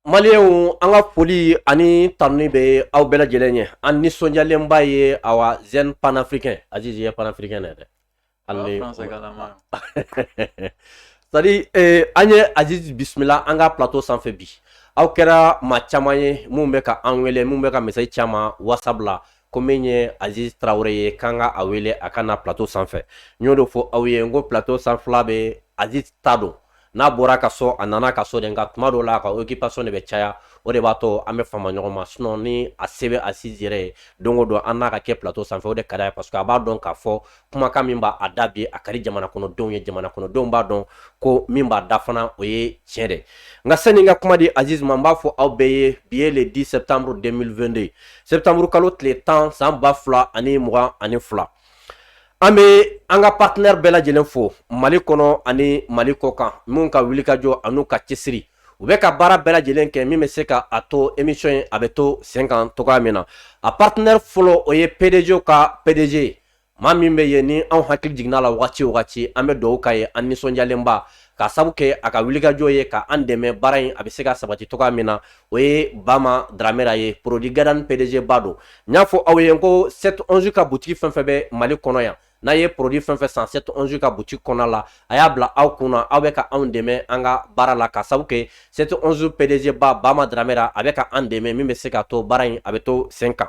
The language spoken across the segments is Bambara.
Malienw an ka foli ani tanuni bɛ aw bɛɛ lajɛlen ye an nisɔndiyalenba ye awa jeune panafricain aziz panafricain dɛ c'est-à-dire an ye aziz bisimila an ka plateau sanfɛ bi aw kɛra maa caman ye minnu bɛ ka an wele minnu bɛ ka message caman WhatsApp ko min ye aziz tarawele ye k'an ka a wele a ka na plateau sanfɛ n y'o de fɔ aw ye n ko plateau sanfɛla bɛ aziz ta don n'a bɔra ka so a nana ka so de nka tuma dɔw la a ka occupation de bɛ caya o de b'a to an bɛ fama ɲɔgɔn ma sinon ni a se bɛ aziz yɛrɛ ye don o don an n'a ka kɛ plateau sanfɛ o de ka d'a ye parce que a b'a dɔn k'a fɔ kumakan min b'a da bi a ka di jamana kɔnɔdenw ye jamana kɔnɔdenw b'a dɔn ko min b'a da fana o ye tiɲɛ de nka sani n ka kuma di aziz ma n b'a fɔ aw bɛɛ ye bi ye le 10 septembre 2022 septembre kalo tile tan san ba fila ani mugan ani fila an bɛ an ka partenaire bɛɛ lajɛlen fo mali kɔnɔ ani mali kɔ kan minnu ka wulikajɔ an'u ka cɛsiri u bɛ ka baara bɛɛ lajɛlen kɛ min bɛ se ka a to emission in a bɛ to sen kan cogoya min na a partenaire fɔlɔ o ye pdg ka pdg ye maa min bɛ yen ni anw hakili jiginna la wagati o wagati an bɛ dugawu k'a ye an nisɔndiyalenba ka sabu kɛ a ka wulikajɔ ye ka an dɛmɛ baara in a bɛ se ka sabati cogoya min na o ye bama dramera ye produit gadan pdg ba don n y'a fɔ aw ye n ko 711 ka butigi fɛn fɛn bɛ mali kɔnɔ yan n'a ye produit fɛn fɛn san 711 ka butigi kɔnɔ la a y'a bila aw kun na aw bɛ ka anw dɛmɛ an ka baara la ka sabu kɛ 711 pdg ba bama dramera a bɛ ka an dɛmɛ min bɛ se ka to baara in a bɛ to sen kan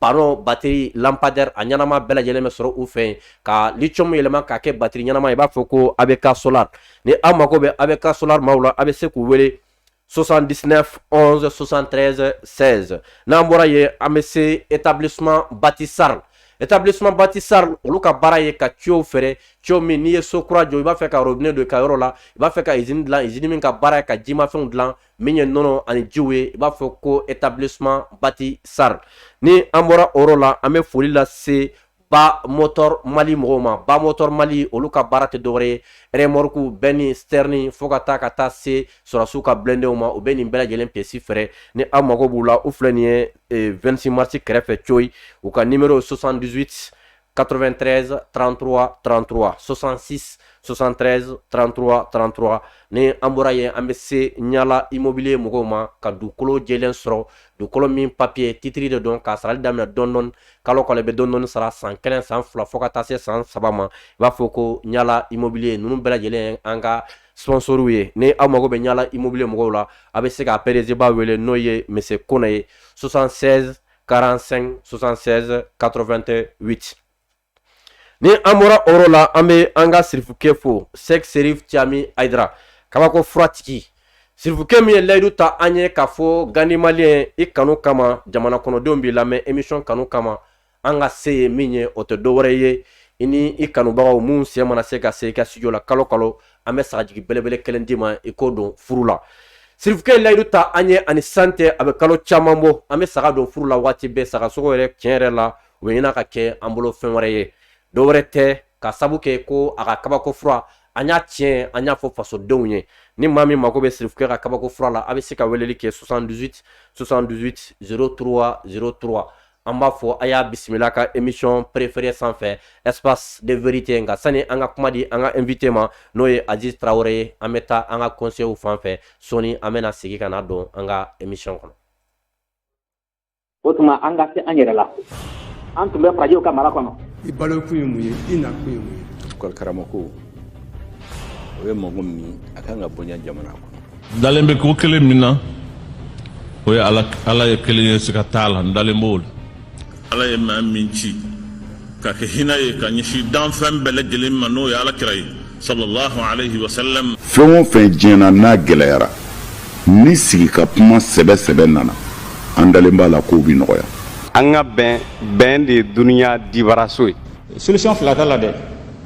panneau batterie lampadaire a ɲɛnama bɛɛ lajɛlen bɛ sɔrɔ u fɛ yen ka lithium yɛlɛma k'a kɛ batterie ɲɛnama i b'a fɔ ko ABK solar ni aw mago bɛ ABK solar maaw la a bɛ se k'u wele 79 11 73 16 n'an bɔra yen an bɛ se établissement Bati Sarl établissement Bati Sarl olu ka baara ye ka tuyau feere tuyau min n'i ye so kura jɔ i b'a fɛ ka robinet don i ka yɔrɔ la i b'a fɛ ka izini dilan izini min ka baara ye ka jimafɛnw dilan min ye nɔnɔ ani jiw ye i b'a fɔ ko établissement Bati Sarl ni an bɔra o yɔrɔ la an bɛ foli lase ba motor mali mɔgɔw ma ba motor mali olu ka baara tɛ dɔwɛrɛ ye remorque benne citerne fo ka taa ka taa se sɔrɔsiw ka blindéw ma u bɛ nin bɛɛ lajɛlen pièces feere ni aw mago b'u la u filɛ nin ye 26 mars kɛrɛfɛ coyi u ka nimero 78 93 33 33 66 73 33 33 ni an bɔra yen an bɛ se ɲala immobilier mɔgɔw ma ka dugukolo jɛlen sɔrɔ dugukolo min papiye titiri de don k'a sarali daminɛ dɔɔni dɔɔni kalo kalo i bɛ dɔɔni dɔɔni sara san kelen san fila fo ka taa se san saba ma i b'a fɔ ko ɲala immobilier ninnu bɛɛ lajɛlen ye an ka sponsorw ye ni aw mago bɛ ɲala immobilier mɔgɔw la a bɛ se ka pdg ba wele n'o ye monsieur kone ye 76 45 76 88 ni an bɔra o yɔrɔ la an bɛ an ka sirifukɛ fo sɛki serifu cami ayidara kabako furatigi sirifukɛ min ye layidu ta an ye k'a fɔ gandi malien i kanu kama jamana kɔnɔdenw b'i lamɛn émission kanu kama an ka se ye min ye o tɛ dɔ wɛrɛ ye i ni i kanubagaw min sen mana se ka se i ka studio la kalo kalo an bɛ sagajigi belebele kelen d'i ma i k'o don furu la sirifukɛ layidu ta an ye ani san tɛ a bɛ kalo caman bɔ an bɛ saga don furu la waati bɛɛ sagasogo yɛrɛ tiɲɛ yɛrɛ la o bɛ ɲini ka kɛ an bolo fɛn wɛrɛ ye dɔ wɛrɛ tɛ k'a sabu kɛ ko a ka kabako fura an y'a tiɲɛ an y'a fɔ fasodenw ye ni maa min mago bɛ sirifukɛ ka kabako fura la a bɛ se ka weleli kɛ 78 78 03 03 an b'a fɔ a y'a bisimila ka émission préférée sanfɛ espace de vérité nka sani an ka kuma di an ka invité ma n'o ye aziz tarawele ye an bɛ taa an ka conseilw fan fɛ sɔni an bɛna segin ka na don an ka émission kɔnɔ o tuma an ka se an yɛrɛ la an tun bɛ farajiw ka mara kɔnɔ i balo kun ye mun ye i na kun ye mun ye karamɔgɔ o ye mɔgɔ min ye a kan ka bonya jamana kɔnɔ dalen bɛ ko kelen min na o ye ala ye kelen ye siga t'a la n dalen b'o la ala ye maa min ci ka kɛ hinɛ ye ka ɲɛsin danfɛn bɛɛ lajɛlen ma n'o ye ala kira ye sallallahu alaihi wasallam fɛn o fɛn diɲɛ na n'a gɛlɛyara ni sigi ka kuma sɛbɛ sɛbɛ nana an dalen b'a la k'o bi nɔgɔya an ka bɛn bɛn de ye dunuya dibaraso ye solution fila t'a la dɛ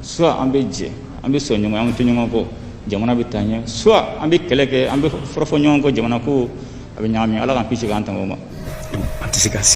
soit an bɛ jɛ an bɛ sɔn ɲɔgɔn an bɛ tugu ɲɔgɔn kɔ jamana bɛ taa ɲɛ soit an bɛ kɛlɛ kɛ an bɛ fɔrɔfɔ ɲɔgɔn kɔ jamana ko a bɛ ɲagami ala k'an kisi k'an tanga o ma an tɛ se ka se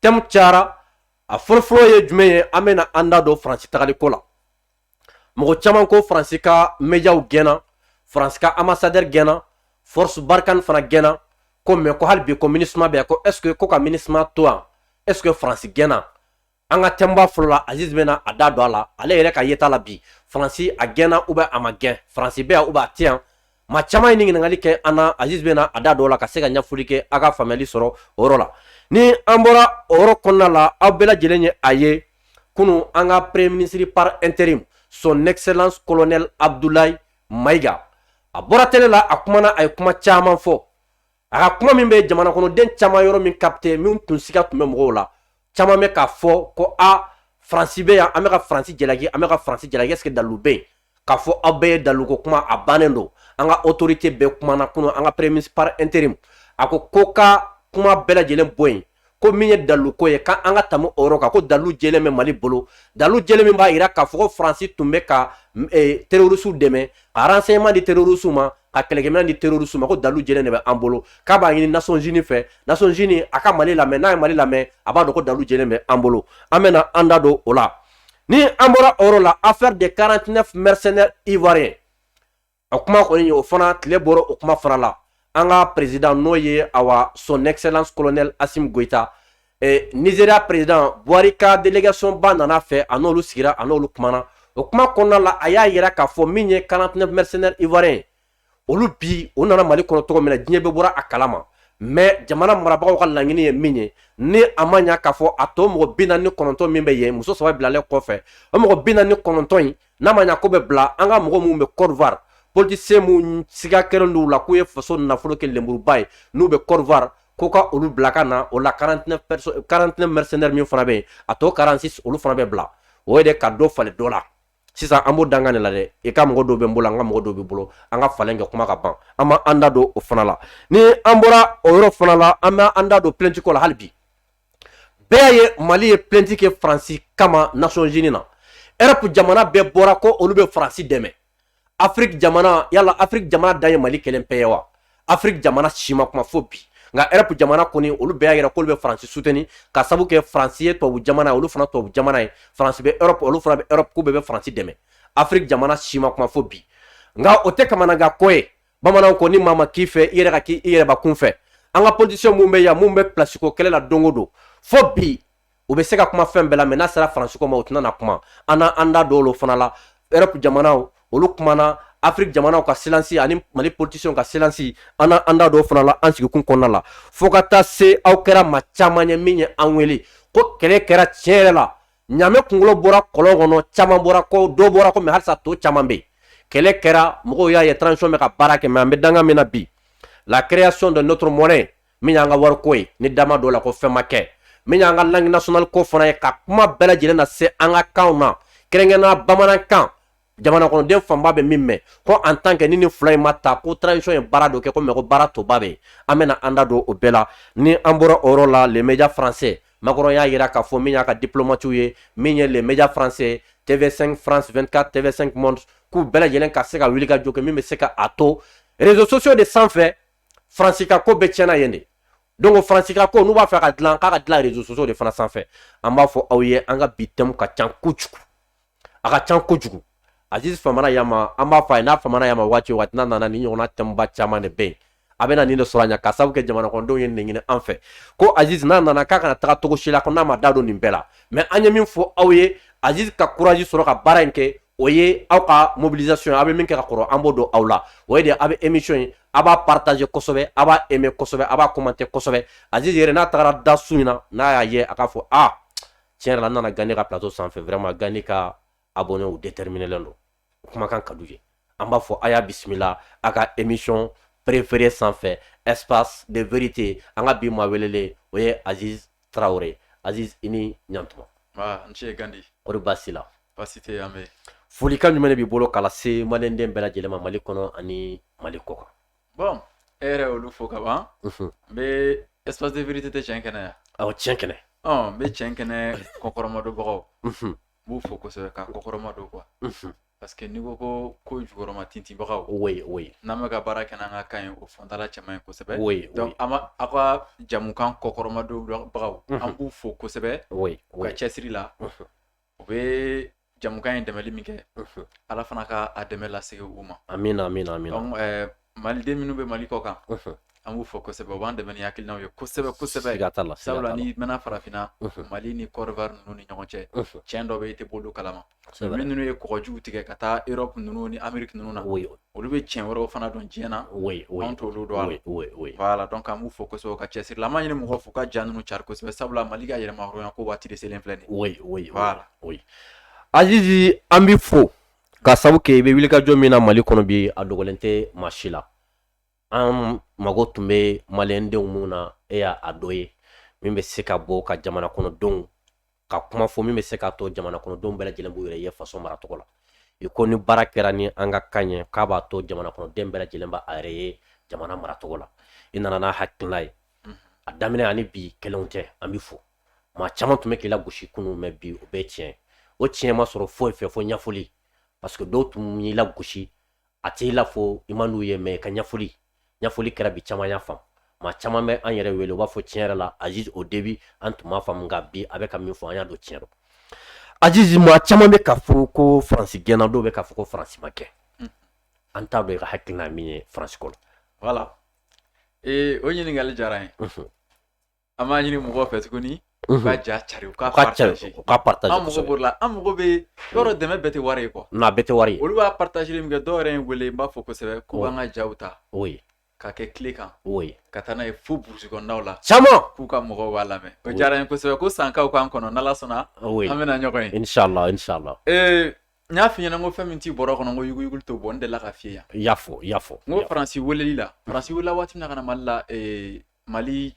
thème cayara a fɔlɔfɔlɔ ye jumɛn ye an bɛna an da don faransi tagali ko la mɔgɔ caman ko faransi ka médiaw gɛnna faransi ka ambassadeur gɛnna force barkhane fana gɛnna ko mais ko hali bi ko minusma bɛ yan ko est-ce que ko ka minusma to yan est-ce que faransi gɛnna an ka thèmeba fɔlɔ la aziz bɛna a da don a la ale yɛrɛ ka yeta la bi faransi a gɛnna ou bien a ma gɛn faransi bɛ yan ou bien a tɛ yan maa caman ye nin ɲininkali kɛ an na aziz bɛna a da don o la ka se ka ɲɛfɔli kɛ a ka faamuyali sɔrɔ o yɔrɔ la ni an bɔra o yɔrɔ kɔnɔna la aw bɛɛ lajɛlen ye a ye kunun an ka premier ministre par intérim son excellence colonel abdoulaye maïga a bɔra tele la a kumana a ye kuma caman fɔ a ka kuma min bɛ jamana kɔnɔden caman yɔrɔ min capté min tun siga tun bɛ mɔgɔw la caman bɛ k'a fɔ ko a faransi bɛ yan an bɛ ka faransi jalaki an bɛ ka faransi jalaki est-ce que dalilu bɛ yen k'a fɔ a bɛɛ ye dalilu ko kuma a bannen don an ka autorité bɛɛ kumana kunun an ka premier ministre par intérim a ko ko ka kuma bɛɛ lajɛlen bɔ yen ko min ye dalu ko ye k'an ka tɛmɛ o yɔrɔ kan ko dalu jɛlen bɛ mali bolo dalu jɛlen min b'a jira k'a fɔ ko faransi tun bɛ ka e, terorisiw dɛmɛ ka renseignement di terorisiw ma ka kɛlɛkɛminɛn di terorisiw ma ko dalu jɛlen de bɛ an bolo k'a b'a ɲini nations unies fɛ nations unies a ka mali lamɛn n'a ye mali lamɛn a b'a dɔn ko dalu jɛlen bɛ an bolo an bɛna an da don o la ni an bɔra o yɔrɔ la affaire de 49 mercenaires ivoiriens o kuma kɔni ye o fana tile bɔra o kuma fana la an ka président n'o ye awa son excellence colonel assimi goïta nigeria président buhari ka délégation ba nana a fɛ a n'olu sigira a n'olu kumana o kuma kɔnɔna la a y'a jira k'a fɔ min ye 49 mercenaires ivoiriens olu bi u nana mali kɔnɔ cogo min na diɲɛ bɛ bɔra a kalama mɛ jamana marabagaw ka laɲini ye min ye ni a ma ɲɛ k'a fɔ a tɔ mɔgɔ bi naani ni kɔnɔntɔn min bɛ yen muso saba bilalen kɔfɛ o mɔgɔ bi naani ni kɔnɔntɔn in n'a ma ɲɛ k'o bɛ bila an ka mɔgɔ minnu bɛ côte d'ivoire politicien minnu siga kɛlen d'u la k'u ye faso nafolo kɛ lenburuba ye n'u bɛ côte d'ivoire ko ka olu bila ka na o la 49 mercenaires min fana bɛ yen a tɔ 46 olu fana bɛ bila o ye de ka dɔ falen dɔ la sisan an b'o danga de la dɛ i ka mɔgɔ dɔw bɛ n bolo an ka mɔgɔ dɔw b'e bolo an ka falen kɛ kuma ka ban an bɛna an da don o fana la ni an bɔra o yɔrɔ fana la an bɛ an da don plainte ko la hali bi bɛɛ y'a ye mali ye plainte kɛ faransi kama nations unies na erɔpu jamana bɛɛ bɔra ko olu bɛ faransi dɛmɛ afiriki jamana yala afiriki jamana dan ye mali kelen pe ye wa afiriki jamana si ma kuma fo bi nka erɔpu jamana kɔni olu bɛɛ y'a yira k'olu bɛ faransi soutenir ka sabu kɛ faransi ye tubabu jamana ye olu fana tubabu jamana ye faransi bɛ erɔpu olu fana bɛ erɔpu k'u bɛɛ bɛ faransi dɛmɛ afiriki jamana si ma kuma fo bi nka o tɛ kamanagan ko ye bamananw ko ni maa ma k'i fɛ i yɛrɛ ka k'i yɛrɛ bakun fɛ an ka politisiyɛn mun bɛ yan mun bɛ pilasiko kɛlɛ la don o don fo bi u bɛ se ka kuma fɛn bɛɛ la mɛ n'a sera faransiko ma u tɛna na kuma an n'an da don olu fana la europe jamanaw olu kumana afiriki jamanaw ka silansi ani mali politisiyɛnw ka silansi an n'an da don o fana la an sigikun kɔnɔna la fo ka taa se aw kɛra maa caman ye min ye an wele ko kɛlɛ kɛra tiɲɛ yɛrɛ la ɲaamɛ kungolo bɔra kɔlɔn kɔnɔ caman bɔra ko dɔ bɔra ko mɛ halisa tɔ caman bɛ kɛlɛ kɛra mɔgɔw y'a ye transition bɛ ka baara kɛ mɛ an bɛ danga min na bi la création de notre monnaie min y'an ka wariko ye ni dama dɔ la ko fɛn ma kɛ min y'an ka langue nationale ko fana ye ka kuma bɛɛ lajɛlen na se an ka kanw na kɛrɛnkɛrɛnnenya bamanankan jamanakɔnɔden fanba bɛ min mɛn ko en tant que ni nin fila in ma ta ko transition ye baara dɔ kɛ ko mɛ ko baara tɔba bɛ an bɛna an da don o bɛɛ la ni an bɔra o yɔrɔ la les médias français macron y'a jira k'a fɔ min y'a ka diplomatiw ye min ye les médias français tv5 france 24 tv5 monde k'u bɛɛ lajɛlen ka se ka wuli ka jɔ kɛ min bɛ se ka a to réseaux sociaux de sanfɛ faransi ka ko bɛɛ tiɲɛna yen de donc faransi ka ko n'u b'a fɛ ka dilan k'a ka dilan réseaux sociaux de fana sanfɛ an b'a fɔ aw ye an ka bi thème ka ca kojugu a ka ca kojugu aziz famana yan ma an b'a fɛ n'a famana yan ma waati waati n'a nana ni ɲɔgɔnna thème ba caman de bɛ yen a bɛna nin de sɔrɔ a ɲɛ ka sababu kɛ jamanakɔnɔdenw ye nin ɲini an fɛ ko aziz n'a nana k'a kana taga cogo si la ko n'a ma da don nin bɛɛ la mɛ an ye min fɔ aw ye aziz ka kuraji sɔrɔ ka baara in kɛ o ye aw ka mobilisation aw bɛ min kɛ ka kɔrɔ an b'o dɔn aw la o ye de aw bɛ émission ye a b'a partager kosɛbɛ a b'a aimer kosɛbɛ a b'a commenter kosɛbɛ aziz yɛrɛ n'a tagara da su in na n'a y'a ye a k'a fɔ a ah, tiɲɛ yɛrɛ la n nana gandi ka plateau sanfɛ vraiment gandi ka abonnéw déterminelen don kumakan ka d'u ye an b'a fɔ a y'a bisimila a ka émission préféré sanfɛ espace de vérité an ka bi maa welelen o ye aziz traoré aziz i ni ɲantuma ah, n ce gandi kori baasi la baasi tɛ an bɛ folikan jumɛn de b'i bolo k'a lase maliyɛnden bɛɛ lajɛlen ma mali kɔnɔ ani mali kɔ kan Bɔn e yɛrɛ olu fo kaban n bɛ espace de vérité tɛ tiɲɛ kɛnɛ yan aw tiɲɛ kɛnɛ n bɛ tiɲɛ kɛnɛ kɔkɔrɔmadonbagaw n b'u fo kosɛbɛ ka kɔkɔrɔma don quoi parce que n'i ko jukɔrɔmatintinbagaw o o n'an bɛ ka baara kɛ n'an ka kan ye o fɔtala cɛ ye kosɛbɛ o aw ka jamukan kɔkɔrɔmadonbagaw an b'u fo kosɛbɛ u ka cɛsiri la u bɛ jamukan in dɛmɛli min kɛ ala fana ka a dɛmɛ lasegin u ma amina amina amina maliden minnu bɛ mali kɔ kan an b'u fo kosɛbɛ u b'an dɛmɛ ni hakilinaw ye kosɛbɛ kosɛbɛ ka t'a la sabula n'i mɛnna farafinna mali ni kɔdiwari ninnu ni ɲɔgɔn cɛ tiɲɛ dɔ bɛ i tɛ bolo kalama minnu ye kɔgɔjiw tigɛ ka taa erɔpu ninnu ni ameriki ninnu na olu bɛ tiɲɛ wɛrɛw fana dɔn diɲɛ na anw t'olu dɔn voilà donc an b'u fo kosɛbɛ u ka cɛsiri la an b'a ɲini mɔgɔw fɛ u ka ja ninnu cari kosɛbɛ sabula mali ka yɛrɛmahɔrɔnya ko waati de selen filɛ nin azizi an b'i fo ka sabu kɛ i bɛ wulikajɔ min na mali kɔnɔ bi a dogolen tɛ maa si la an mago tun bɛ malɛndenw minnu na e y'a dɔ ye min bɛ se ka bɔ ka jamana kɔnɔdenw ka kuma fɔ min bɛ se k'a to jamana kɔnɔdenw bɛɛ lajɛlen b'u yɛrɛ ye faso mara tɔgɔ la i ko ni baara kɛra ni an ka kan ye k'a b'a to jamana kɔnɔden bɛɛ lajɛlen b'a yɛrɛ ye jamana mara tɔgɔ la i nana n'a hakilila ye a daminɛ ani bi kelen tɛ an b'i fo maa caman tun bɛ k'i lagosi kunun mɛ bi o bɛɛ tiɲɛ o tiɲɛ ma sɔrɔ foyi fɛ fo ɲɛfɔli parce que dɔw tun y'i lagosi a t'i la fo i man d'u ye mɛ ka ɲɛfɔli ɲɛfɔli kɛra bi caman y'a faamu maa caman bɛ an yɛrɛ wele u b'a fɔ tiɲɛ yɛrɛ la aziz au début an tun m'a faamu nka bi a bɛ ka min fɔ an y'a dɔn tiɲɛ don aziz maa caman bɛ k'a fɔ ko faransi gɛnna dɔw bɛ k'a fɔ ko faransi ma gɛn mm. an t'a dɔn i ka hakilina min ye faransi kɔnɔ voilà ee o ɲininkali diyara n ye an b'a ɲini mɔgɔw fɛ tuguni u ka ja cari u ka partager u ka partager an mago b'o la an mago bɛ yɔrɔ dɛmɛ bɛɛ tɛ wari ye quoi non a bɛɛ tɛ wari ye olu b'a partager min kɛ dɔw yɛrɛ ye n wele n b'a fo kosɛbɛ ko an ka jaw ta oui ka kɛ clé kan oui ka taa n'a ye fo burusi kɔnɔnaw la caman k'u ka mɔgɔw b'a lamɛn o diyara n ye kosɛbɛ ko sankaw k'an kɔnɔ n'ala sɔnna oui an bɛna ɲɔgɔn ye inshallah inshallah ee n y'a f'i ɲɛna ko fɛn min t'i bɔrɔ kɔnɔ ko yuguyuguli t'o bɔ n delila k'a f'i ye yan i y'a fɔ i y'a fɔ n ko faransi welela faransi welela waati min na ka na mali la ee mali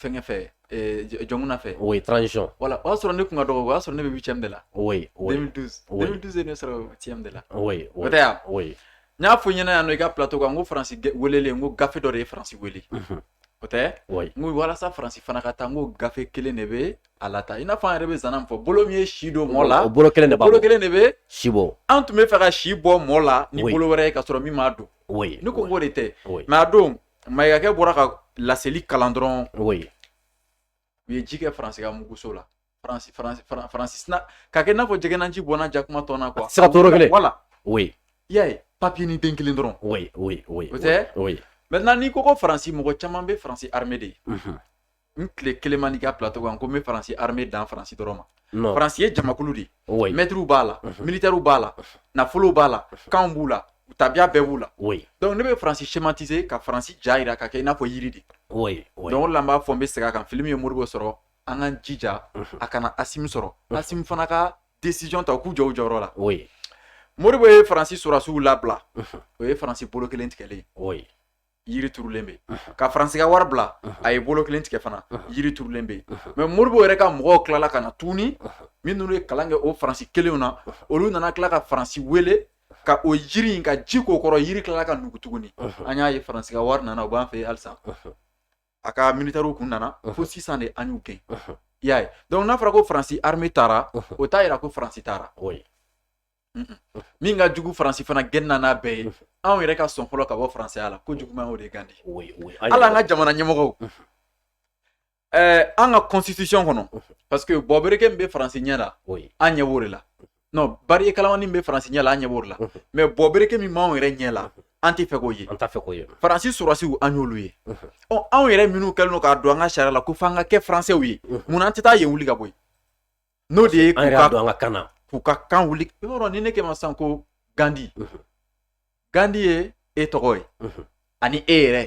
fɛnkɛ fɛ jɔnkunda fɛ o ye transition voilà o y'a sɔrɔ ne tun ka dɔgɔ o y'a sɔrɔ ne bɛ huitième de la oui oui 2012 2012 ye ne sɔrɔ huitième de la oui o tɛ yan oui n y'a f'i ɲɛna yan nɔ i ka plateau kan n ko faransi welelen n ko gafe dɔ de ye faransi wele mhm. o tɛ oui n ko walasa faransi fana ka taa n ko gafe kelen de bɛ a lataa i n'a fɔ an yɛrɛ bɛ zana min fɔ bolo min ye si don mɔɔ la o bolo kelen de b'a bolo kelen de bɛ si bɔ an tun bɛ fɛ ka si bɔ mɔɔ la ni bolo wɛrɛ ye ka sɔrɔ min m'a don oui ne ko n k'o de tɛ mais a don Mayigakɛ bɔra ka laseli kalan dɔrɔn o ye u ye ji kɛ faransi ka muguso la faransi ka kɛ n'a fɔ jɛgɛnanji bɔnna jakuma tɔn na quoi sa kelen voilà o i y'a ye papier nin den kelen dɔrɔn o o tɛ maintenant n'i ko ko faransi mɔgɔ caman bɛ faransi armée de ye n tile kelen ma n'i ka plateau kan ko n bɛ faransi armée dan faransi dɔrɔn ma non faransi ye jamakulu de ye oui mɛtiriw b'a la Mhm. militaires b'a la Mhm. nafolow b'a la Mhm. kanw b'u la tabiya bɛɛ b'u la oui donc ne bɛ faransi schématiser ka faransi ja jira ka kɛ i n'a fɔ yiri de oui oui donc o de la n b'a fɔ n bɛ segin a kan fɛn min ye moribo sɔrɔ an k'an jija Mhm. a kana asimi sɔrɔ Mhm. asimi fana ka décision ta u k'u jɔ u jɔyɔrɔ la oui moribo ye faransi sɔrɔdasiw labila Mhm. o ye faransi bolo kelen tigɛlen ye oui yiri turulen bɛ ka faransi ka wari bila a ye bolo kelen tigɛ fana yiri turulen bɛ mais moribo yɛrɛ ka mɔgɔw tilala ka na tuguni minnu ye kalan kɛ o faransi kelenw na olu nana tila ka faransi wele ka o yiri in ka ji k'o kɔrɔ yiri tilala ka nugu tuguni an y'a ye faransi ka wari nana u b'an fɛ halisa a ka militaires kun nana fo sisan de an y'u gɛn i y'a ye donc n'a fɔra ko faransi armée taara o t'a jira ko faransi taara min ka jugu faransi fana gɛn n'a bɛɛ ye anw yɛrɛ ka sɔn fɔlɔ ka bɔ faransɛya la ko juguman o de gandi hali an ka jamana ɲɛmɔgɔw eh, an ka constitution kɔnɔ parce que bɔbereke min bɛ faransi ɲɛ la an ɲɛ b'o de la non bari kalamani min bɛ faransi ɲɛ la an ɲɛ b'o de la mais bɔbereke min b'anw yɛrɛ ɲɛ la an tɛ fɛ k'o ye an t'a fɛ k'o ye faransi sɔrɔsiw an y'olu ye ɔ anw yɛrɛ minnu kɛlen don k'a don an ka sariya la ko f'an ka kɛ faransɛw ye mun na an tɛ taa yen wuli ka bɔ yen n'o de ye ka don an ka kan k'u ka kan wuli i y'a dɔn ni ne k'e ma sisan ko gandi gandi ye e tɔgɔ ye ani e yɛrɛ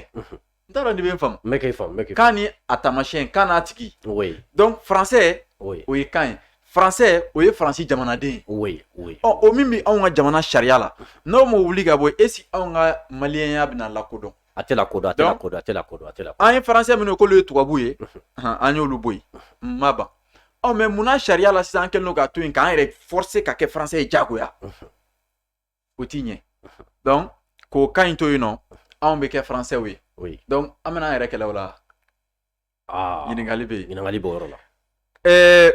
n t'a dɔn n'i bɛ n faamu n bɛ k'e faamu n bɛ k'e kan ni a taamasiyɛn kan n'a tigi oui donc français oui o ye kan ye français o ye faransi jamanaden ye oui oui ɔ o min bɛ anw ka jamana sariya la n'o ma wuli ka bɔ yen est ce que anw ka maliyɛnya bɛna lakodɔn a tɛ kodɔn a tɛ kodɔn a tɛ kodɔn a tɛ an ye faransɛ minnu k'olu ye tubabu ye an y'olu bɔ yen ma ban ɔ mɛ munna sariya la sisan an kɛlen don k'a to yen k'an yɛrɛ fɔrse ka kɛ faransɛ ye jagoya o ti ɲɛ donc k'o kan in to yen nɔ anw bɛ kɛ faransɛw ye donc an bɛna an yɛrɛ kɛlɛ o la ɲininkali bɛ yen ɲininkali b'o yɔrɔ la ɛɛ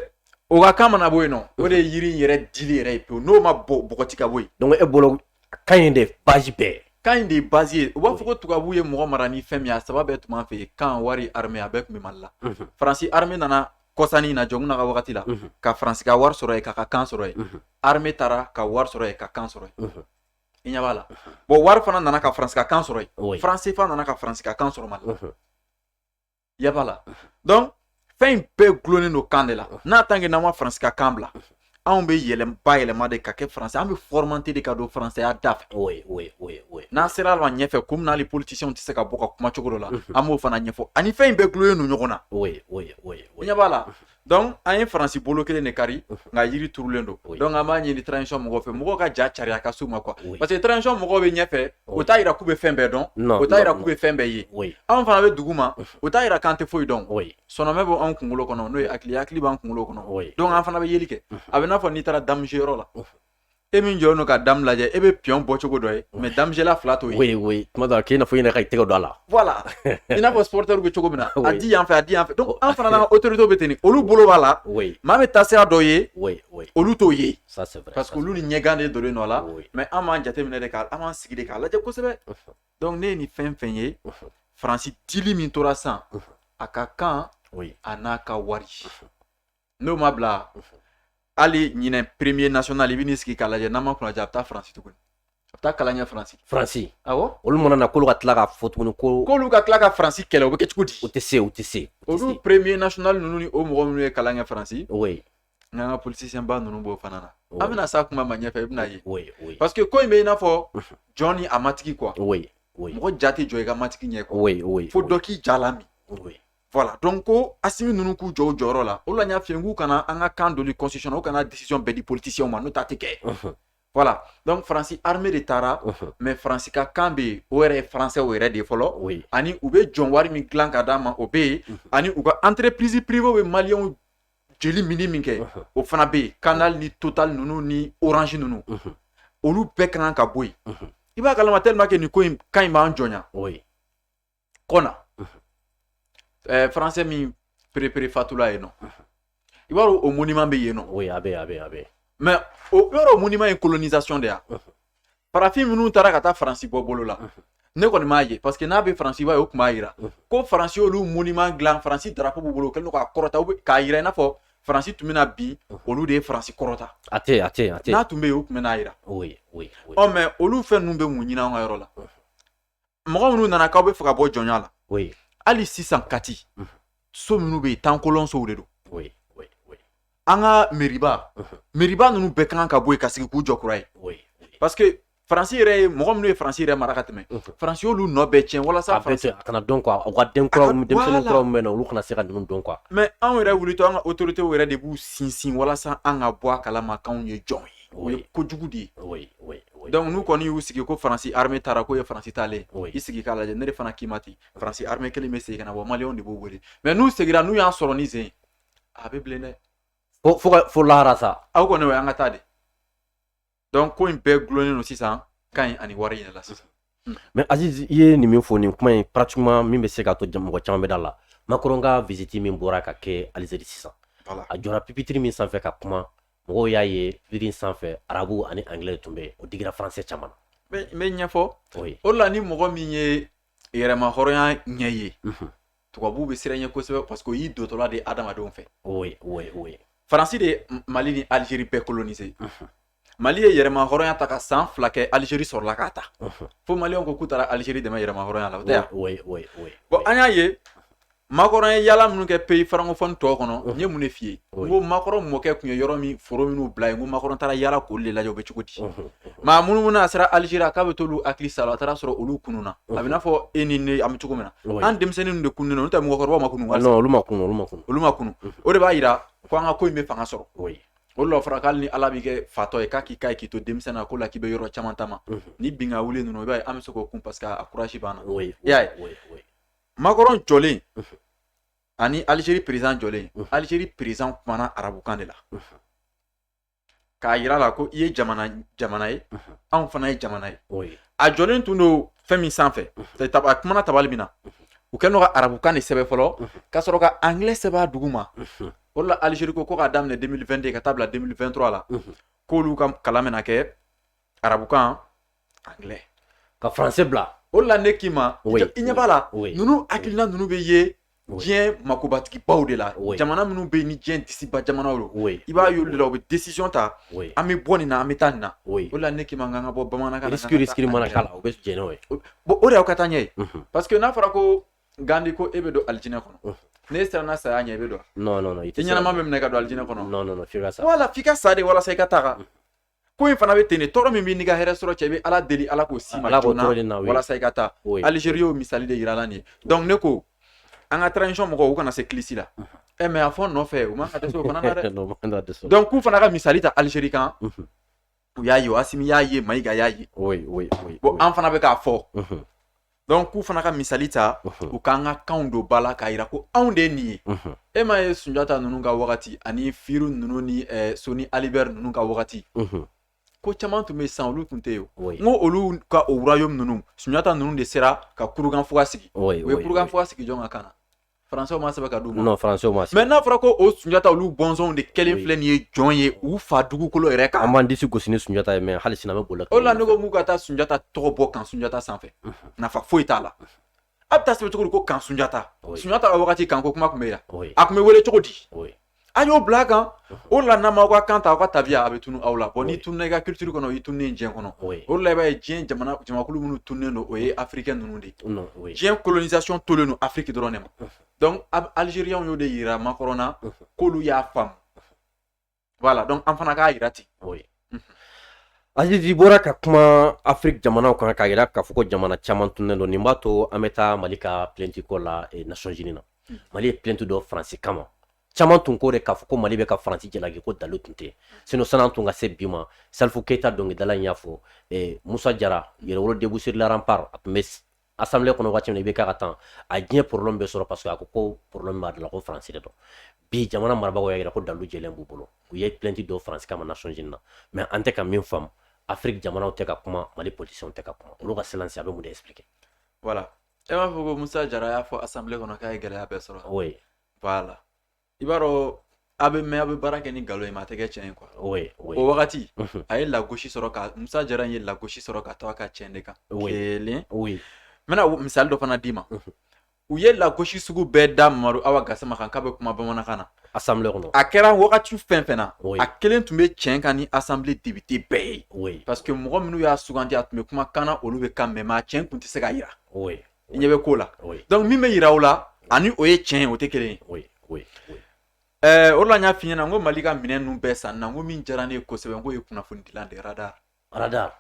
o ka kan mana bɔ yen nɔ o de ye yiri yɛrɛ dili yɛrɛ ye pewu n'o ma bɔ bɔgɔti ka bɔ yen donc e bolo kan in de bazi bɛɛ kan in de ye bazi ye u b'a fɔ ko tubabu ye mɔgɔ mara ni fɛn min ye a saba bɛɛ tun b'an fɛ yen kan wari arme a bɛɛ tun bɛ mali la faransi arme nana kɔsa in na jɔnkunda ka wagati la ka faransi ka wari sɔrɔ yen k'a ka kan sɔrɔ yen arme taara ka wari sɔrɔ yen ka kan sɔrɔ yen i ɲɛ b'a la bon wari fana nana ka faransi ka kan sɔrɔ yen faran sefa nana ka faransi ka kan sɔrɔ mali la i ɲɛ b'a la donc fɛn in bɛɛ gulonnen don kan de la n'a tant que n'an ma faransi ka kan bila anw bɛ yɛlɛma bayɛlɛma de ka kɛ faransɛ an bɛ fɔrɔmate de ka don faransɛya da fɛ n'an sera ma ɲɛfɛ ko munna les politisiyɛnw tɛ se ka bɔ ka kuma cogo dɔ la an b'o fana ɲɛfɔ ani fɛn in bɛɛ gulonnen don ɲɔgɔn na i ɲɛ b'a la donc an ye faransi bolo kelen de kari nka yiri turulen don donc an b'a ɲini transition mɔgɔw fɛ mɔgɔw ka ja cariya ka s'u ma quoi parce que transition mɔgɔw bɛ ɲɛfɛ o t'a jira k'u bɛ fɛn bɛɛ dɔn o t'a jira k'u bɛ fɛn bɛɛ ye anw fana bɛ dugu ma o t'a jira k'an tɛ foyi dɔn sɔnmɛ bɛ anw kunkolo kɔnɔ n'o ye hakili hakili b'an kunkolo kɔnɔ donc an fana bɛ yeli kɛ a bɛ n'a fɔ n'i taara damuciyɔrɔ la e min jɔlen don ka damu lajɛ e bɛ piɔn bɔ cogo dɔ ye mɛ damucila fila t'o ye quoi tuma dɔ k'i n'a fɔ i yɛrɛ ka i tɛgɛ don a la voilà i n'a fɔ supɔrɔtɛriw bɛ cogo min na a di yan fɛ a di yan fɛ donc an fana n'an ka otoritew bɛ ten nin olu bolo b'a la maa bɛ taa sira dɔ ye olu t'o ye parce que olu ni ɲɛgan de donnen don a la mɛ an b'an jateminɛ de ka an b'an sigi de k'a lajɛ kosɛbɛ donc ne ye nin fɛn fɛn ye faransi dili min tora sisan a ka kan a n'a ka wari n'o ma bila hali ɲinɛ premier national i bɛ n'i sigi k'a lajɛ n'an ma kunnadiya a bɛ taa faransi tuguni a bɛ taa kalan kɛ faransi faransi awɔ olu mana na k'olu ka tila ka fɔ tuguni ko k'olu ka tila ka faransi kɛlɛ o bɛ kɛ cogo di u tɛ se u tɛ se u tɛ se olu premier national ninnu ni o mɔgɔ minnu ye kalan kɛ faransi oui nka an ka politicien ba ninnu b'o fana na Oui. an bɛna s'a kuma ma ɲɛfɛ i bɛna ye oui oui parce que ko in bɛ i n'a fɔ Mhm. jɔn ni a matigi quoi oui oui mɔgɔ ja tɛ jɔ i ka matigi ɲɛ quoi oui oui fo dɔ k'i ja lami oui Voilà. Donc ko Asimi ninnu k'u jɔ u jɔyɔrɔ la. O la n y'a f'i ye k'u kana an ka kan donli constitution na, u kana décision bɛɛ di politiciens ma n'o tɛ a tɛ kɛ. Unhun. Voilà. Donc France armée de taara. Unhun. Mais France ka kan bɛ yen, o yɛrɛ ye français o yɛrɛ de ye fɔlɔ. Oui. Ani u bɛ jɔn wari min dilan ka d'an ma o bɛ yen. Unhun. Ani u ka entreprise privée bɛ maliyɛnw joli minni min kɛ. Unhun. O fana bɛ yen. Canal ni Total ninnu ni Orange ninnu. Unhun. Olu bɛɛ ka kan ka bɔ yen. Unhun. I b'a kalama tellement que nin ko in kan in b'an jɔnya. Oui. kɔna ɛɛ faransɛ min perepere fatula yen nɔ i b'a dɔn o monument bɛ yen nɔ oui a bɛ a bɛ a bɛ mais o yɔrɔ monument ye colonisation de ye farafin minnu taara ka taa faransi bɔ bolo la ne kɔni m'a ye parce que n'a bɛ faransi i b'a ye o tun b'a jira ko faransi y'olu monument dilan faransi darapo b'u bolo u kɛlen don k'a kɔrɔta u bɛ k'a jira i n'a fɔ faransi tun bɛna bin olu de ye faransi kɔrɔta a tɛ yen a tɛ yen a tɛ yen n'a tun bɛ yen u tun bɛn'a jira oui oui oui ɔ mais olu fɛn ninnu bɛ mun ɲini an ka yɔrɔ la mɔgɔ minnu nana k'aw bɛ fɛ ka bɔ jɔnya la oui hali sisan kati Mhm. so minnu bɛ yen temps colon sow de don oui oui oui an ka meriba Mhm. meriba ninnu bɛɛ kan ka bɔ yen ka sigi k'u jɔ kura ye oui oui parce que faransi yɛrɛ ye mɔgɔ minnu ye faransi yɛrɛ mara ka tɛmɛ Mhm. faransi y'olu nɔ bɛɛ tiɲɛ walasa a bɛ faransi to a kana dɔn quoi u ka den kuraw A ka- denmisɛnnin voilà. kuraw min bɛ na olu kana se ka ninnu dɔn quoi mais anw yɛrɛ wulitɔ an ka autorités yɛrɛ de b'u sinsin walasa an ka bɔ a kalama k'anw ye jɔn ye o ye ko jugu de ye donc n'u kɔni y'u sigi ko faransi armée taara k'o ye faransi taalen i sigi k'a lajɛ ne de fana k'i ma ten faransi armée kelen bɛ segin ka na bon maliyɛnw de b'u wele mais n'u seginna n'u y'an sɔrɔ nin sen a bɛ bilen dɛ fo lahara sa aw kɔni o y'an ka taa de donc ko in bɛɛ dulonnen don sisan kan in ani wari in la sisan Mais Aziz i ye nin min fɔ nin kuma in pratiquement min bɛ se k'a to mɔgɔ caman bɛ da la makɔrɔn ka visite min bɔra ka kɛ alizeri sisan a jɔra pipitiri min sanfɛ ka kuma mɔgɔw y'a ye pipitiri sanfɛ arabu ani angilɛ tun bɛ o digira faransɛ caman na n bɛ ɲɛfɔ o la ni mɔgɔ min ye yɛrɛma hɔrɔnya ɲɛ ye tubabuw bɛ siran i ɲɛ kosɛbɛ parce que o y'i dɔtɔla de hadamadenw fɛ faransi de mali ni alizeri bɛɛ kolonise mali ye yɛrɛma hɔrɔnya ta ka san fila kɛ alizeri sɔrɔla k'a ta fo maliyɛnw ko k'u taara alizeri dɛmɛ yɛrɛma hɔrɔnya la yan bon an y'a ye makɔrɔn ye yaala minnu kɛ peyi farankɔfɔn tɔw kɔnɔ n ye mun de f'i ye ko makɔrɔn mɔkɛ tun ye yɔrɔ min foro minnu bila yen ko makɔrɔn taara yaala k'olu de lajɛ u bɛ cogo di maa minnu minnu a sera alizeri k'a bɛ t'olu hakili sa a taara sɔrɔ olu kununna a bɛ n'a fɔ e ni ne an bɛ cogo min na an denmisɛnninw de kununnen n'o tɛ mɔgɔkɔrɔbaw ma kunun olu ma kunun o de b'a jira ko an ka ko in bɛ fanga sɔrɔ o la fɔra k'ale ni ala b'i kɛ fatɔ ye k'a k'i k'a ye k'i to denmisɛnnin na k'o la k'i bɛ yɔrɔ caman taama mhm. ni bin ka wuli ninnu i b'a ye an bɛ se k'o kun parce que a kurasi b'an na i y'a ye makɔrɔn jɔlen mhm. ani alizeri perezan jɔlen mhm. alizeri perezan kumana arabukan de la k'a yira a la ko i ye jamana jamana ye anw fana ye jamana ye a jɔlen tun don fɛn min sanfɛ a kumana tabali min na u kɛlen don ka arabukan de sɛbɛn fɔlɔ ka sɔrɔ ka angilɛ sɛbɛn a duguma o la alizeri ko k'a daminɛ 2022 ka taa bila 2023 la k'olu ka kalan bɛna kɛ arabukan anglais ka français bila o la ne k'i ma i ɲɛ b'a la ninnu hakilina ninnu bɛ ye diɲɛ makobatigibaw de la jamana minnu bɛ ni diɲɛ disiba jamana don i b'a ye olu de la u bɛ décision ta an bɛ bɔ nin na an bɛ taa nin na o la ne k'i ma k'an ka bɔ bamanankan sigi mana la u bɛ jɛn n'o ye bon o de y'aw ka taa ɲɛ ye parce que n'a fɔra ko gandi ko e bɛ don alijinɛ kɔnɔ mhm. n'e siranna saya ɲɛ i bɛ don non non non i ɲɛnama bɛ minɛ ka don alijinɛ kɔnɔ non non non f'i ka sa voilà f'i ka sa de walasa i ka taga mhm. ko in fana bɛ ten de tɔɔrɔ min b'i n'i ka hɛrɛ sɔrɔ cɛ i bɛ ala deli ala k'o se i ma joona walasa i ka taa alizeri y'o misali de yira la nin ye donc ne ko an ka transition mɔgɔw u kana se kilisi la mhm. ɛ eh, mais a fɔ nɔfɛ u man ka dɛsɛ o fana na dɛ donc k'u fana ka misali ta alizeri kan u y'a ye asimi y'a ye mayiga y'a ye bon an fana bɛ k'a fɔ donc k'u fana ka misali ta u k'an ka kanw don ba la k'a yira ko anw de ye nin ye e m'a ye sunjata ninnu ka wagati ani firu ninnu ni soni ali ber ninnu ka wagati ko caman tun bɛ san olu tun tɛ yen n ko olu ka o royaume ninnu sunjata ninnu de sera ka kurukanfuga sigi u ye kurukanfuga sigi jɔn ka kan na français m'a sɛbɛn k'a d'u ma non français m'a sɛbɛn mais n'a fɔra ko o sunjata olu bɔnsɔnw de kɛlen filɛ nin ye jɔn ye u fa dugukolo yɛrɛ kan an b'an disi gosi ni sunjata ye mais hali sini an bɛ boli o la ne ko k'u ka taa sunjata tɔgɔ bɔ camp sunjata sanfɛ nafa foyi t'a la a bɛ taa sɛbɛn cogo di ko camp sunjata sunjata ka wagati camp ko kuma tun bɛ yan a tun bɛ wele cogo di a y'o bila a kan o la n'aw m'aw ka kan ta aw ka tabiya a bɛ tunu aw la bon n'i tununna i ka culture kɔnɔ i tununnen diɲɛ kɔnɔ o la i b'a ye diɲɛ jamakulu minnu tunnen don o ye africain ninnu de ye diɲɛ colonisation tolen don afiriki dɔrɔn ne ma donc alizeri y'o de yira makɔrɔn na k'olu y'a faamu voilà donc an fana k'a yira ten Aziz i bɔra ka kuma afiriki jamanaw kan k'a yira k'a fɔ ko jamana caman tunnen don nin b'a to an bɛ taa mali ka plainte ko la nations unies na mali ye plainte don faransi kama caman tun ko de k'a fɔ ko mali bɛ ka faransi jalaki ko dalu tun tɛ sinon san'an tun ka se bi ma salifu keyita dɔnkilidala in y'a fɔ musa jara yɛrɛwolo debout sur les remparts a tun bɛ assemblée kɔnɔ waati min na IBK ka temps a diɲɛ problème bɛɛ sɔrɔ parce que a ko ko problème b'a la ko faransi de don bi jamana marabagaw y'a yira ko dalu jɛlen b'u bolo u ye plainte don faransi kama nations unies na mais an tɛ ka min faamu afiriki jamanaw tɛ ka kuma mali politisiyɛnw tɛ ka kuma olu ka silence a bɛ mun de expliquer voilà e m'a fɔ ko musa jara y'a fɔ assemblée kɔnɔ k'a ye gɛlɛya bɛɛ sɔrɔ oui voilà i b'a dɔn a bɛ mɛn a bɛ baara kɛ ni nkalon ye mais a tɛ kɛ cɛn ye quoi oui oui o wagati Mhm. a ye lagosi sɔrɔ ka musa jara in ye lagosi sɔrɔ ka to a ka cɛn de kan Oui. kelen oui n bɛna wo- misali dɔ fana d'i ma Mhm. u ye lagosi sugu bɛɛ da mamadu awa gasama kan k'a bɛ kuma bamanankan na assemblée kɔnɔ a kɛra wagati fɛn fɛn na Oui. a kelen tun bɛ cɛn kan ni assemblée député bɛɛ ye oui parce que mɔgɔ minnu y'a sugandi a tun bɛ kuma kan na olu bɛ kan mɛn mais cɛn tun tɛ se ka yira oui i ɲɛ bɛ ko la donc min bɛ jira aw la ani o ye tiɲɛ ye o tɛ kelen ye o la n y'a f'i ɲɛna n ko mali ka minɛn ninnu bɛɛ san na n ko min diyara ne ye kosɛbɛ n k'o ye kunnafoni dila de radar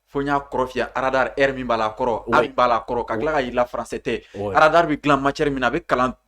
fo n y'a kɔrɔ f'i ye radar r min b'a la kɔrɔ a min b'a la kɔrɔ ka tila ka yir'i la français tɛ radar bɛ dilan matière min na a bɛ kalan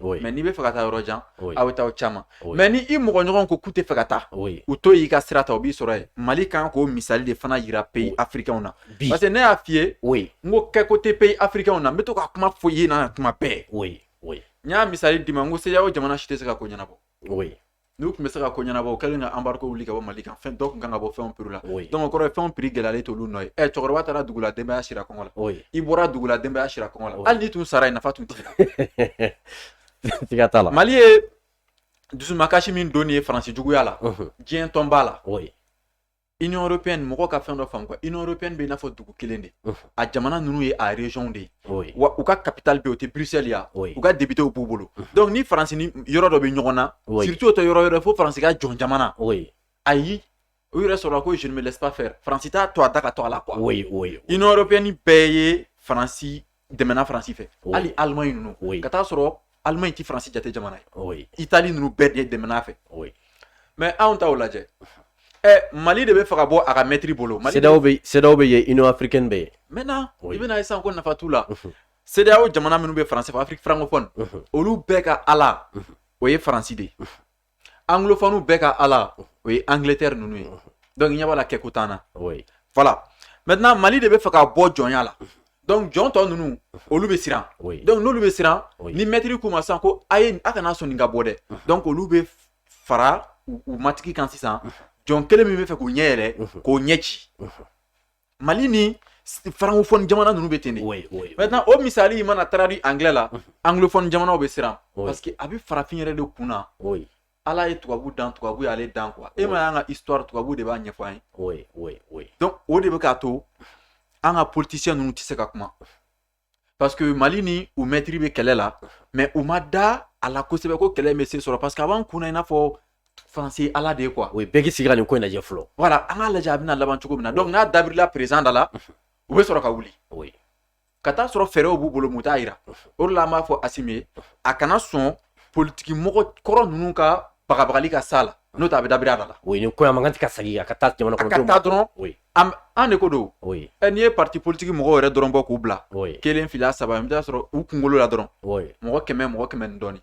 mais n'i bɛ fɛ ka taa yɔrɔ jan aw bɛ taa aw caman mais ni i mɔgɔ ɲɔgɔn ko k'u tɛ fɛ ka taa u to y'i ka sira ta u b'i sɔrɔ yen mali kan k'o misali de fana jira pays africains na parce que ne y'a f'i ye n ko kɛko tɛ pays africains na n bɛ to ka kuma fɔ i ɲɛna tuma bɛɛ n y'a misali d'i ma n ko cedeao jamana si tɛ se ka ko ɲɛnabɔ n'u tun bɛ se ka ko ɲɛnabɔ u kɛlen ka embargo wuli ka bɔ mali kan fɛn dɔ tun kan ka bɔ fɛnw prix la donc o kɔrɔ ye fɛnw prix gɛlɛyalen t'olu nɔ ye ɛ cɛkɔrɔba taara dugu la denbaya sira kɔngɔ la i bɔra dugu la denbaya sira kɔngɔ la hali n'i tun sara yen nafa tun t'i la mali ye dusumakasi min don ye faransi juguya la diɲɛ tɔn b'a la i yɔrɔpy ni mɔgɔ ka fɛn dɔ fan i yɔrɔp bɛ n'a fɔ dugu kelen de a jamana ninnu ye arezw de ye wa u ka ptali u tɛ bilisisɛya u ka debitew b'u bolo dɔnku ni faransi yɔrɔ dɔ bɛ ɲɔgɔn na siritu tɛ yɔrɔ yɔrɔ fo faransi ka jɔn jamana ayi u yɛrɛ sɔrɔ ko zp fɛ faransi t' to a da ka to a la i yɔrɔpy ni bɛɛ ye faransi dɛmɛna faransi fɛ hali allemagne ninnu ka taa sɔrɔ allemagne ti faransi jate jamana ye italie ninnu bɛɛ de dɛmɛna fɛ mais anw taw lajɛ ɛ mali de bɛ fɛ ka bɔ a ka mɛtiri bolo cedeao bɛ yen union africaine bɛ yen maintenant i bɛn'a ye sisan ko nafa t'u la cedeao jamana minnu bɛ faransi fɛ afrique francophone olu bɛɛ ka ala o ye faransi de ye anglophone bɛɛ ka ala o ye angleterre ninnu ye donc i ɲɛ b'a la kɛko t'an na voilà maintenant mali de bɛ fɛ ka bɔ jɔnya la donc jɔn tɔ ninnu olu bɛ siran donc n'olu bɛ siran ni mɛtiri k'u ma sisan ko a ye a kana sɔn nin ka bɔ dɛ donc olu bɛ fara u matigi kan sisan jɔn kelen min bɛ fɛ k'u ɲɛ yɛlɛ k'o ɲɛ ci mali ni francophone jamana ninnu bɛ ten de maintenant o misali in mana traduit anglais la anglophone jamanaw bɛ siran parce que a bɛ farafin yɛrɛ de kun na ala ye tubabu dan tubabu y'ale dan quoi e m'a y'an ka histoire tubabu de b'a ɲɛfɔ an ye donc o de bɛ k'a to an ka politicien ninnu tɛ se ka kuma parce que mali ni u mɛtiri bɛ kɛlɛ la mais u ma da a la kosɛbɛ ko kɛlɛ bɛ se sɔrɔ parce que a b'an kunna i n'a fɔ faransi ala de ye quoi o ye bɛɛ k'i sigi ka nin ko in lajɛ fɔlɔ voilà an k'a lajɛ a bɛna laban cogo min na donc n'a dabirila président da la u bɛ sɔrɔ ka wuli oui. ka taa sɔrɔ fɛɛrɛw b'u bolo mais u t'a yira o de la an b'a fɔ asimi ye a kana sɔn politiki mɔgɔ kɔrɔ ninnu ka bagabagali ka s'a la n'o tɛ a bɛ dabiri a da la oui, nin ko in a man kan tɛ ka sagi a ka taa jamana a ka kɔnɔdenw ma taa dɔrɔn oui. an de ko don ɛ n'i ye pati politigi mɔgɔw yɛrɛ dɔrɔn bɔ k'u bila kelen fila saba i b'a sɔrɔ u kunkolo la dɔrɔn mɔgɔ kɛmɛ mɔgɔ kɛmɛ ni dɔɔnin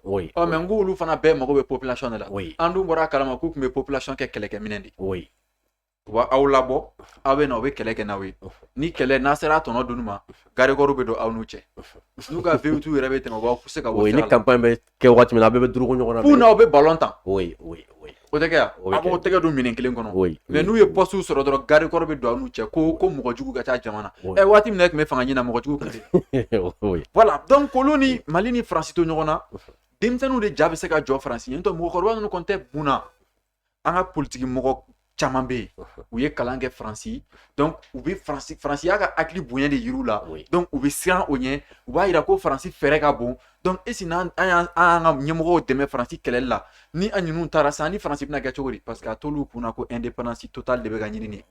mais n ko olu fana bɛɛ mago bɛ population de la an dun bɔra a kalama k'u tun bɛ population kɛ kɛlɛkɛminɛn de u b'aw labɔ aw bɛ na u bɛ kɛlɛ kɛ n'aw ye ni kɛlɛ n'a sera a tɔnɔ dunni ma garde corps bɛ don aw n'u cɛ n'u ka V8 yɛrɛ bɛ tɛmɛ u b'aw se ka kɛ waati min na a bɛɛ bɛ duruko ɲɔgɔn na. F'u n'aw bɛ ballon tan. Oui oui oui. O tɛ kɛ wa? O bɛ kɛ. Aw b'aw tɛgɛ don minɛn kelen kɔnɔ. Oui. Mais n'u ye poste sɔrɔ dɔrɔn garde corps bɛ don aw n'u cɛ ko ko mɔgɔ jugu ka ca jama na. Oui. Ɛ waati min na e tun bɛ fanga ɲini na mɔgɔ jugu tun tɛ yen. Oui. Voilà donc olu ni Mali ni France to ɲɔgɔn na denmisɛnninw de ja bɛ se ka jɔ France ɲɛ n'o tɛ mɔgɔkɔrɔba ninnu kɔni tɛ mun na an ka politigi mɔgɔ caman bɛ yen u ye kalan kɛ faransi donc u bɛ faransi faransi y'a ka hakili bonya de yir'u la donc u bɛ siran o ɲɛ u b'a yira ko faransi fɛɛrɛ ka bon donc est ce que n'an an y'an ka ɲɛmɔgɔw dɛmɛ faransi kɛlɛli la ni an ninnu taara sa an ni faransi bɛna kɛ cogo di parce que a t'olu kunna ko indépendance totale de bɛ ka ɲini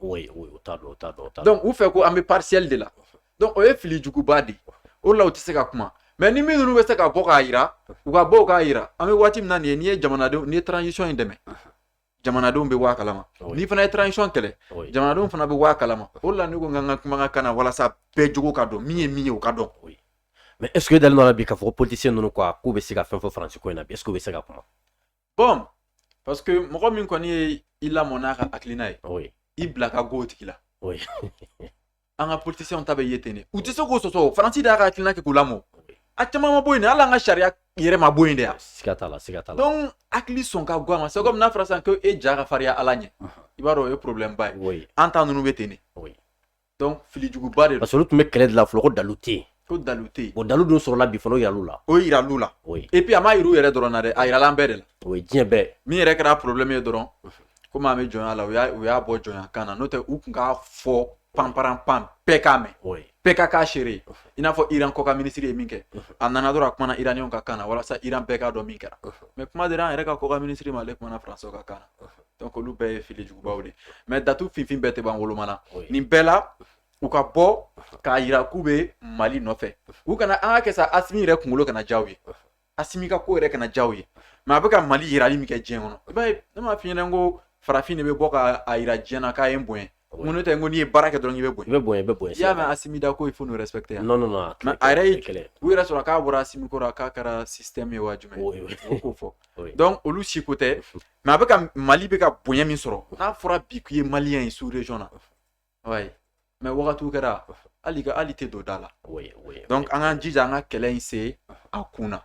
donc u fɛ ko an bɛ partielle de la donc o ye fili juguba de ye o la u tɛ se ka kuma mais ni minnu bɛ se ka bɔ k'a yira u ka bɔ k'a yira an bɛ waati min na nin ye n'i ye jamanadenw n'i ye transition in dɛmɛ jamanadenw bɛ bɔ a kalama n'i fana ye transition kɛlɛ jamanadenw fana bɛ bɔ a kalama o la ne ko n ka n ka kumakan ka na walasa bɛɛ jogo ka dɔn min ye min ye o ka dɔn mais est ce que dalen don o la bi k'a fɔ ko politicien ninnu quoi k'u bɛ se ka fɛn fɔ faransi ko in na bi est ce que u bɛ se ka kuma bon parce que mɔgɔ min kɔni ye i lamɔ n'a ka hakilina ye oui. i bila ka go o tigi la oui. an ka politisiyɛnw ta bɛ ye ten de u tɛ se k'o sɔsɔ faransi de y'a ka hakilina kɛ k'u lamɔ a caman ma bɔ yen de hali an ka sariya yɛrɛ ma bɔ yen de yan siga t'a la siga t'a la donc hakili sɔn ka go a ma c'est comme n'a fɔra sisan ko e ja ka fariya ala ɲɛ i b'a dɔn o ye problème ba ye oui. an ta ninnu bɛ ten de oui. filijuguba de parce que olu tun bɛ kɛlɛ la fɔlɔ ko dalu tɛ yen ko dalu tɛ yen bon dalu dun sɔrɔla bi fana o yiral'u la o yiral'u la et puis a ma yir'u yɛrɛ dɔrɔn na dɛ a yirala an bɛɛ de la o ye diɲɛ bɛɛ min yɛrɛ kɛra porobilɛmi ye dɔrɔn komi an bɛ jɔnya la u y'a bɔ jɔnya kan na n'o tɛ u tun k'a fɔ bambara an bɛɛ k'a mɛn bɛɛ ka kɛ a seere i n'a fɔ iran kɔkan minisiri ye min kɛ a nana dɔrɔn a kumana iraniw ka kan na walasa iran bɛɛ k'a dɔn min kɛra mais kuma dira an yɛrɛ ka kɔkan minisiri ma ale kumana faransɛw ka kan donc olu bɛɛ ye fili jugubaw de mais datu finfin bɛɛ tɛ ban woloma na nin bɛɛ la u ka bɔ k'a yira k'u bɛ mali nɔfɛ u kana an k'a kɛ sa asimi yɛrɛ kunkolo kana ja u ye asimi ka ko yɛrɛ kana ja u ye mais a bɛ ka mali yirali min kɛ diɲɛ kɔnɔ i b'a ye ne m'a f'i ɲɛna ko farafin de bɛ bɔ k'a yira diɲɛ na k'a ye n bonya Mun tɛ n ko n'i ye baara kɛ dɔrɔn i bɛ bonya i bɛ bonya i bɛ bonya i y'a mɛn asimi da ko il faut nous respecter non a yɛrɛ ye kɛlɛ u yɛrɛ sɔrɔ k'a bɔra asimi kɔrɔ k'a kɛra système ye wa jumɛn ko fɔ donc olu si ko tɛ mais a bɛ ka mali bɛ ka bonya min sɔrɔ n'a fɔra bi k'i ye malien ye sous région na mais wagati kɛra hali ka hali tɛ don da la donc an k'an jija an ka kɛlɛ in se a kun na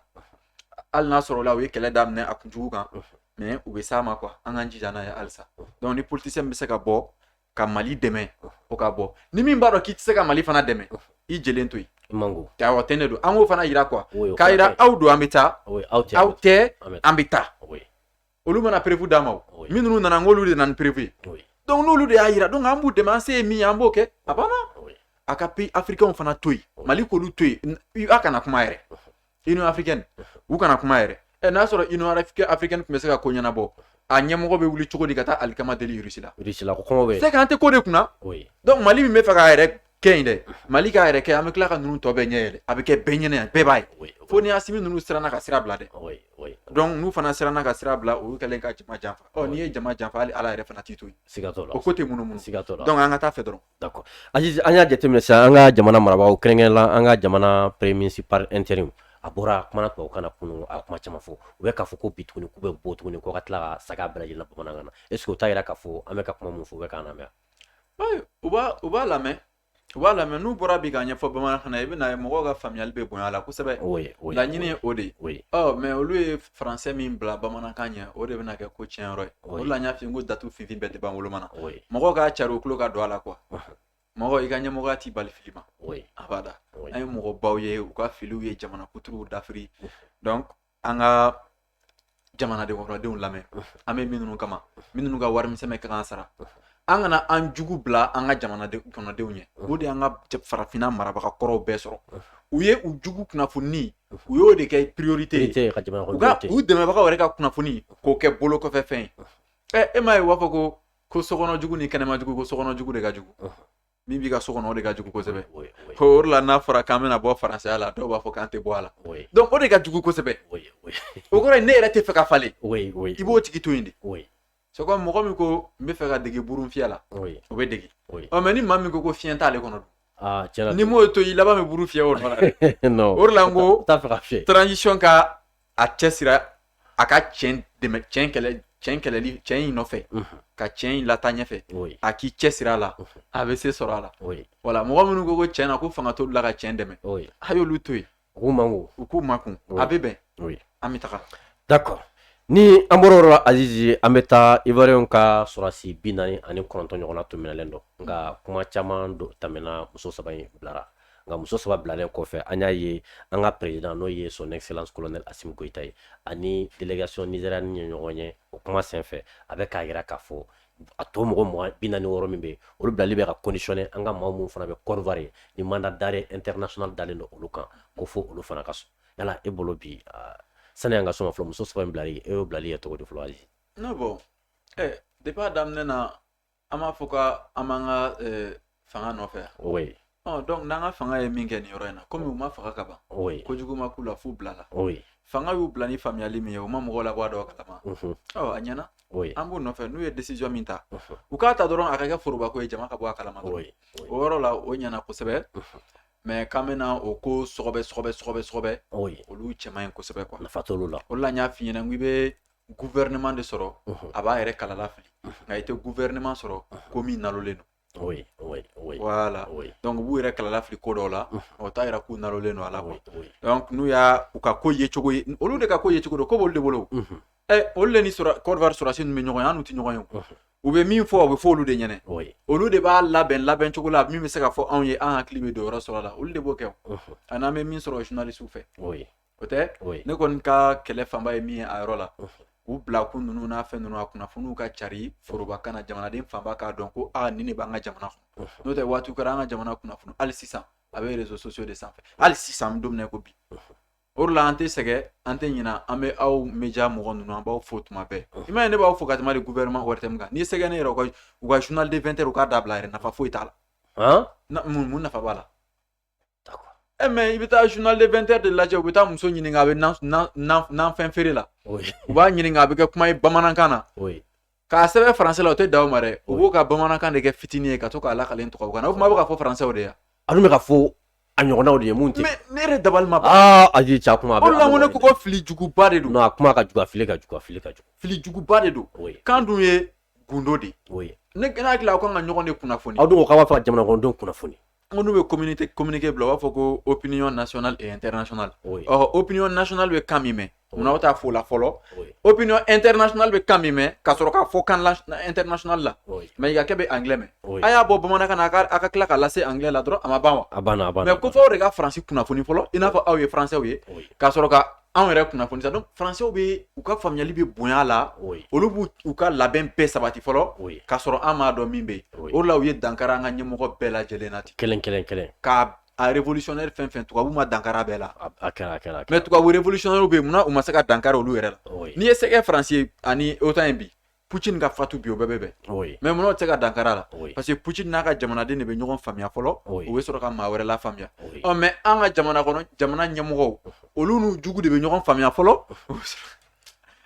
hali n'a sɔrɔla u ye kɛlɛ daminɛ a kunjugu kan mɛ u bɛ s'a ma kuwa an k'an jija n'a ye halisa dɔnku ni politisiyɛn bɛ se ka bɔ ka mali dɛmɛ o ka bɔ ni min b'a dɔn k'i tɛ se ka mali fana dɛmɛ i jɛlen to yen mango aw tɛ ne don an k'o fana yira kuwa k'a yira aw don an bɛ taa aw tɛ an bɛ taa olu mana perefu d'a ma minnu nana n k'olu de nana ni perefu ye dɔnku n'olu de y'a yira dɔnku an b'u dɛmɛ an se ye min ye an b'o kɛ a banna a ka peyi afirikɛnw fana to yen mali k'olu to yen aw kana kuma yɛrɛ union africaine u kana kuma yɛrɛ ɛ n'a sɔrɔ union africaine tun bɛ se ka ko ɲɛnabɔ a ɲɛmɔgɔ bɛ wuli cogo di ka taa alikama deli irisi la irisi la ko kɔngɔ bɛ c'est que an tɛ ko de kunna donc mali min bɛ fɛ k'a yɛrɛ kɛ yen dɛ mali k'a yɛrɛ kɛ an bɛ tila ka ninnu tɔ bɛɛ ɲɛ yɛlɛ a bɛ kɛ bɛɛ ɲɛna yan bɛɛ b'a ye fo ni asimi ninnu siranna ka sira bila dɛ donc n'u fana siranna ka sira bila olu kɛlen ka jama janfa ɔ n'i ye jama janfa hali ala yɛrɛ fana t'i to yen o ko tɛ munumunu donc an ka taa fɛ dɔrɔn an y'a jateminɛ sisan an ka jamana marabagaw kɛrɛnkɛrɛn la an ka jamana premier ministre par intérim a bɔra a kumana tubabukan na kunun a kuma caman fɔ u bɛ k'a fɔ ko bi tuguni k'u bɛ bɔ tuguni ko ka tila ka sagin a bɛɛ lajɛlen na bamanankan na est-ce que o t'a jira k'a fɔ an bɛ ka kuma min fɔ u bɛ k'a lamɛn u u b'a lamɛn u b'a lamɛn n'u bɔra bi k'a ɲɛfɔ bamanankan na i bɛn'a ye mɔgɔw ka faamuyali bɛ bonya a la kosɛbɛ o laɲini ye o de ye mais olu ye faransɛ min bila bamanankan ɲɛ o de bɛna kɛ ko tiɲɛ yɔrɔ ye o de la n y'a f'i ye n ko datu finfin bɛɛ tɛ ban woloma na mɔgɔw k'a cari u tulo ka don a la kuwa mɔgɔ i ka ɲɛmɔgɔya t'i bali fili ma abada an ye mɔgɔbaw ye u ka filiw ye jamana kuturuw dafiri donc an ka jamana kɔnɔdenw lamɛn an bɛ minnu kama minnu ka warimisɛn bɛ k'an sara an kana an jugu bila an ka jamana kɔnɔdenw ɲɛ o de y'an ka farafinna marabaga kɔrɔw bɛɛ sɔrɔ u ye u jugu kunnafoni u y'o de kɛ priorité ye ka jamana u ka u dɛmɛbagaw yɛrɛ ka kunnafoni k'o kɛ bolo kɔfɛ fɛn ye ɛ e m'a ye u b'a fɔ ko ko sokɔnɔ jugu ni kɛnɛma jugu ko sokɔnɔ jugu de ka jugu min b'i ka so kɔnɔ o de ka jugu kosɛbɛ ko o la n'a fɔra k'an bɛna bɔ faransɛya la dɔw b'a fɔ k'an tɛ bɔ a la donc o de ka jugu kosɛbɛ o kɔrɔ ne yɛrɛ tɛ fɛ ka falen i b'o tigi to yen de c'est comme mɔgɔ min ko n bɛ fɛ ka dege burun fiyɛ la o bɛ dege mɛ ni maa min ko ko fiɲɛ t'ale kɔnɔ ah, n'i m'o to i laban bɛ buru fiyɛ o nɔ o de la n ko transition ka a cɛ siri a ka cɛn dɛmɛ cɛn kɛlɛ cɛn kɛlɛli cɛn in nɔfɛ mhm. ka cɛn in lataa ɲɛfɛ a k'i cɛ siri a la mhm. a bɛ se sɔrɔ a la wala mɔgɔ minnu ko ko cɛn na ko fanga t'olu la ka cɛn dɛmɛ a y'olu to yen U man u k'u makun a bɛ bɛn an bɛ taga d'accord ni an bɔra yɔrɔ la Azizi an bɛ taa Ivoiriyɛnw ka sɔrɔdasi bi naani ani kɔnɔntɔn ɲɔgɔnna tun minɛlen don nka kuma caman tɛmɛna muso saba in bilara nka muso saba bilalen kɔfɛ an y'a ye an ka président n'o ye son excellence colonel Assimi Goïta ye ani délégation nigérienne ye ɲɔgɔn ye o kuma senfɛ a bɛ k'a jira k'a fɔ a tɔ mɔgɔ maa bi naani ni wɔɔrɔ min bɛ yen olu bilali bɛ ka conditionner an ka maa minnu fana bɛ Côte d'Ivoire yen ni mandat d'arrêt international dalen don olu kan ko fo olu fana ka sɔn yala e bolo bi sani an ka sɔn fɔlɔ muso saba in bilali e y'o bilali ye cogo di fɔlɔ Aziz. non bon ɛ depuis a daminɛ na an b'a fɔ k'an b'an ka fanga nɔfɛ oui ɔ donc n'an ka fanga ye min kɛ nin yɔrɔ in na komi u ma faga ka ban oui kojugu ma k'u la f'u bilala oui fanga y'u bila ni faamuyali min ye u ma mɔgɔw labɔ a dɔw kalama mhm. ɔ a ɲɛna oui an b'u nɔfɛ n'u ye décision min ta mhm. u k'a ta dɔrɔn a ka kɛ forobako ye jama ka bɔ a kalama dɔrɔn oui oui o yɔrɔ la o ɲɛna kosɛbɛ Mhm. mais k'an bɛna o ko sɔgɔbɛ sɔgɔbɛ sɔgɔbɛ sɔgɔbɛ oui olu cɛ man ɲi kosɛbɛ quoi nafa t'olu la o de la n y'a f'i ɲɛna n ko i bɛ gouvernement de sɔrɔ Mhm. a b'a yɛrɛ kalala fili nka i tɛ gouvernement sɔrɔ ko min nalolen don Oui, oui, oui. Voilà. Oui. Donc u b'u yɛrɛ kalala fili ko dɔw la, o t'a jira k'u nalolen don a la quoi. Oui, oui. Donc n'u y'a u ka ko ye cogo ye, olu de ka ko ye cogo don, ko b'olu de bolo. Unhun. Ɛ olu de ni Côte d'Ivoire sɔrɔdasi ninnu bɛ ɲɔgɔn ye, an n'u tɛ ɲɔgɔn ye o. Unhun. U bɛ min fɔ, o bɛ fɔ olu de ɲɛna. Oui. Olu de b'a labɛn labɛn cogo la min bɛ se ka fɔ anw ye an hakili bɛ don yɔrɔ sɔrɔ la, olu de b'o kɛ o. Unhun. Ani an bɛ min sɔrɔ journalistes fɛ. Oui. o tɛ ne kɔni ka kɛlɛ fanba ye min ye a yɔrɔ la u bila kun ninnu n'a fɛn ninnu a kunnafoniw ka cari forobakan na jamanaden fanba k'a dɔn ko aa nin de b'an ka jamana kɔnɔ n'o tɛ waati kɛra an ka jamana kunnafoni hali sisan a bɛ réseaux sociaux de sanfɛ hali sisan an bɛ don min na ko bi o de la an tɛ sɛgɛn an tɛ ɲinɛ an bɛ aw média mɔgɔ ninnu an b'aw fo tuma bɛɛ i m'a ye ne b'aw fo ka tɛmɛ de gouvernement ORTM kan n'i sɛgɛn ne yɛrɛ u ka journal de 20 heures u k'a dabila yɛrɛ nafa foyi t'a la mun nafa b'a la Ɛ mais i bɛ taa journal de 20 heures de lajɛ u bɛ taa muso ɲininka a bɛ nafɛn feere la u b'a ɲininka a bɛ kɛ kuma ye bamanankan na k'a sɛbɛn français la o tɛ dan o ma dɛ u b'u ka bamanankan de kɛ fitinin ye ka to k'a lakali tubabukan na o tuma a bɛ ka fɔ faransɛw de ye a bɛ ka fɔ a ɲɔgɔnw de ye mun ne yɛrɛ dabali ma ban ayi ca kuma a la ko ne ko ko fili juguba de don a kuma ka jugu a fili ka jugu a fili ka fili juguba de don kan dun ye gundo de ye ne hakili aw kan ka ɲɔgɔn de kunnafoni aw dun k'aw b'a fɛ ka jamanadenw kunnafoni ko n'u bɛ communiqué communiqué bila u b'a fɔ ko opinion nationale et internationale oui. ɔ opinion nationale bɛ kan min mɛn oui. munna aw t'a fɔ o la fɔlɔ oui. opinion internationale bɛ kan min mɛn ka sɔrɔ k'a fɔ kan internationale la oui. Maïgakɛ bɛ anglais mɛn oui. a y'a bɔ bamanankan na a ka tila k'a lase anglais la dɔrɔn a ma ban wa a banna a banna mais ko fo aw de ka faransi kunnafoni fɔlɔ i n'a fɔ aw ye français ye oui. ka sɔrɔ ka anw yɛrɛ kunnafoni sa donc français bɛ u ka faamuyali bɛ bonya la olu b'u u ka labɛn bɛɛ sabati fɔlɔ k'a sɔrɔ an m'a dɔn min bɛ yen o la u ye dankara an ka ɲɛmɔgɔ bɛɛ lajɛlen na ten kelen kelen kelen ka a révolutionnaire fɛn fɛn tubabu ma dankara bɛɛ la a kɛra a kɛra mais tubabu révolutionnaire bɛ yen munna u ma se ka dankara olu yɛrɛ la n'i ye sɛgɛ faransi ani OTAN in bi Putin ka fatu bi o bɛɛ bɛ bɛn oui mais munna o tɛ se ka dankara la oui parce que Putin n'a ka jamanaden de bɛ ɲɔgɔn faamuya fɔlɔ oui u bɛ sɔrɔ ka maa wɛrɛ la faamuya oui ɔ mais an ka jamana kɔnɔ jamana ɲɛmɔgɔw olu n'u jugu de bɛ ɲɔgɔn faamuya fɔlɔ u bɛ sɔrɔ-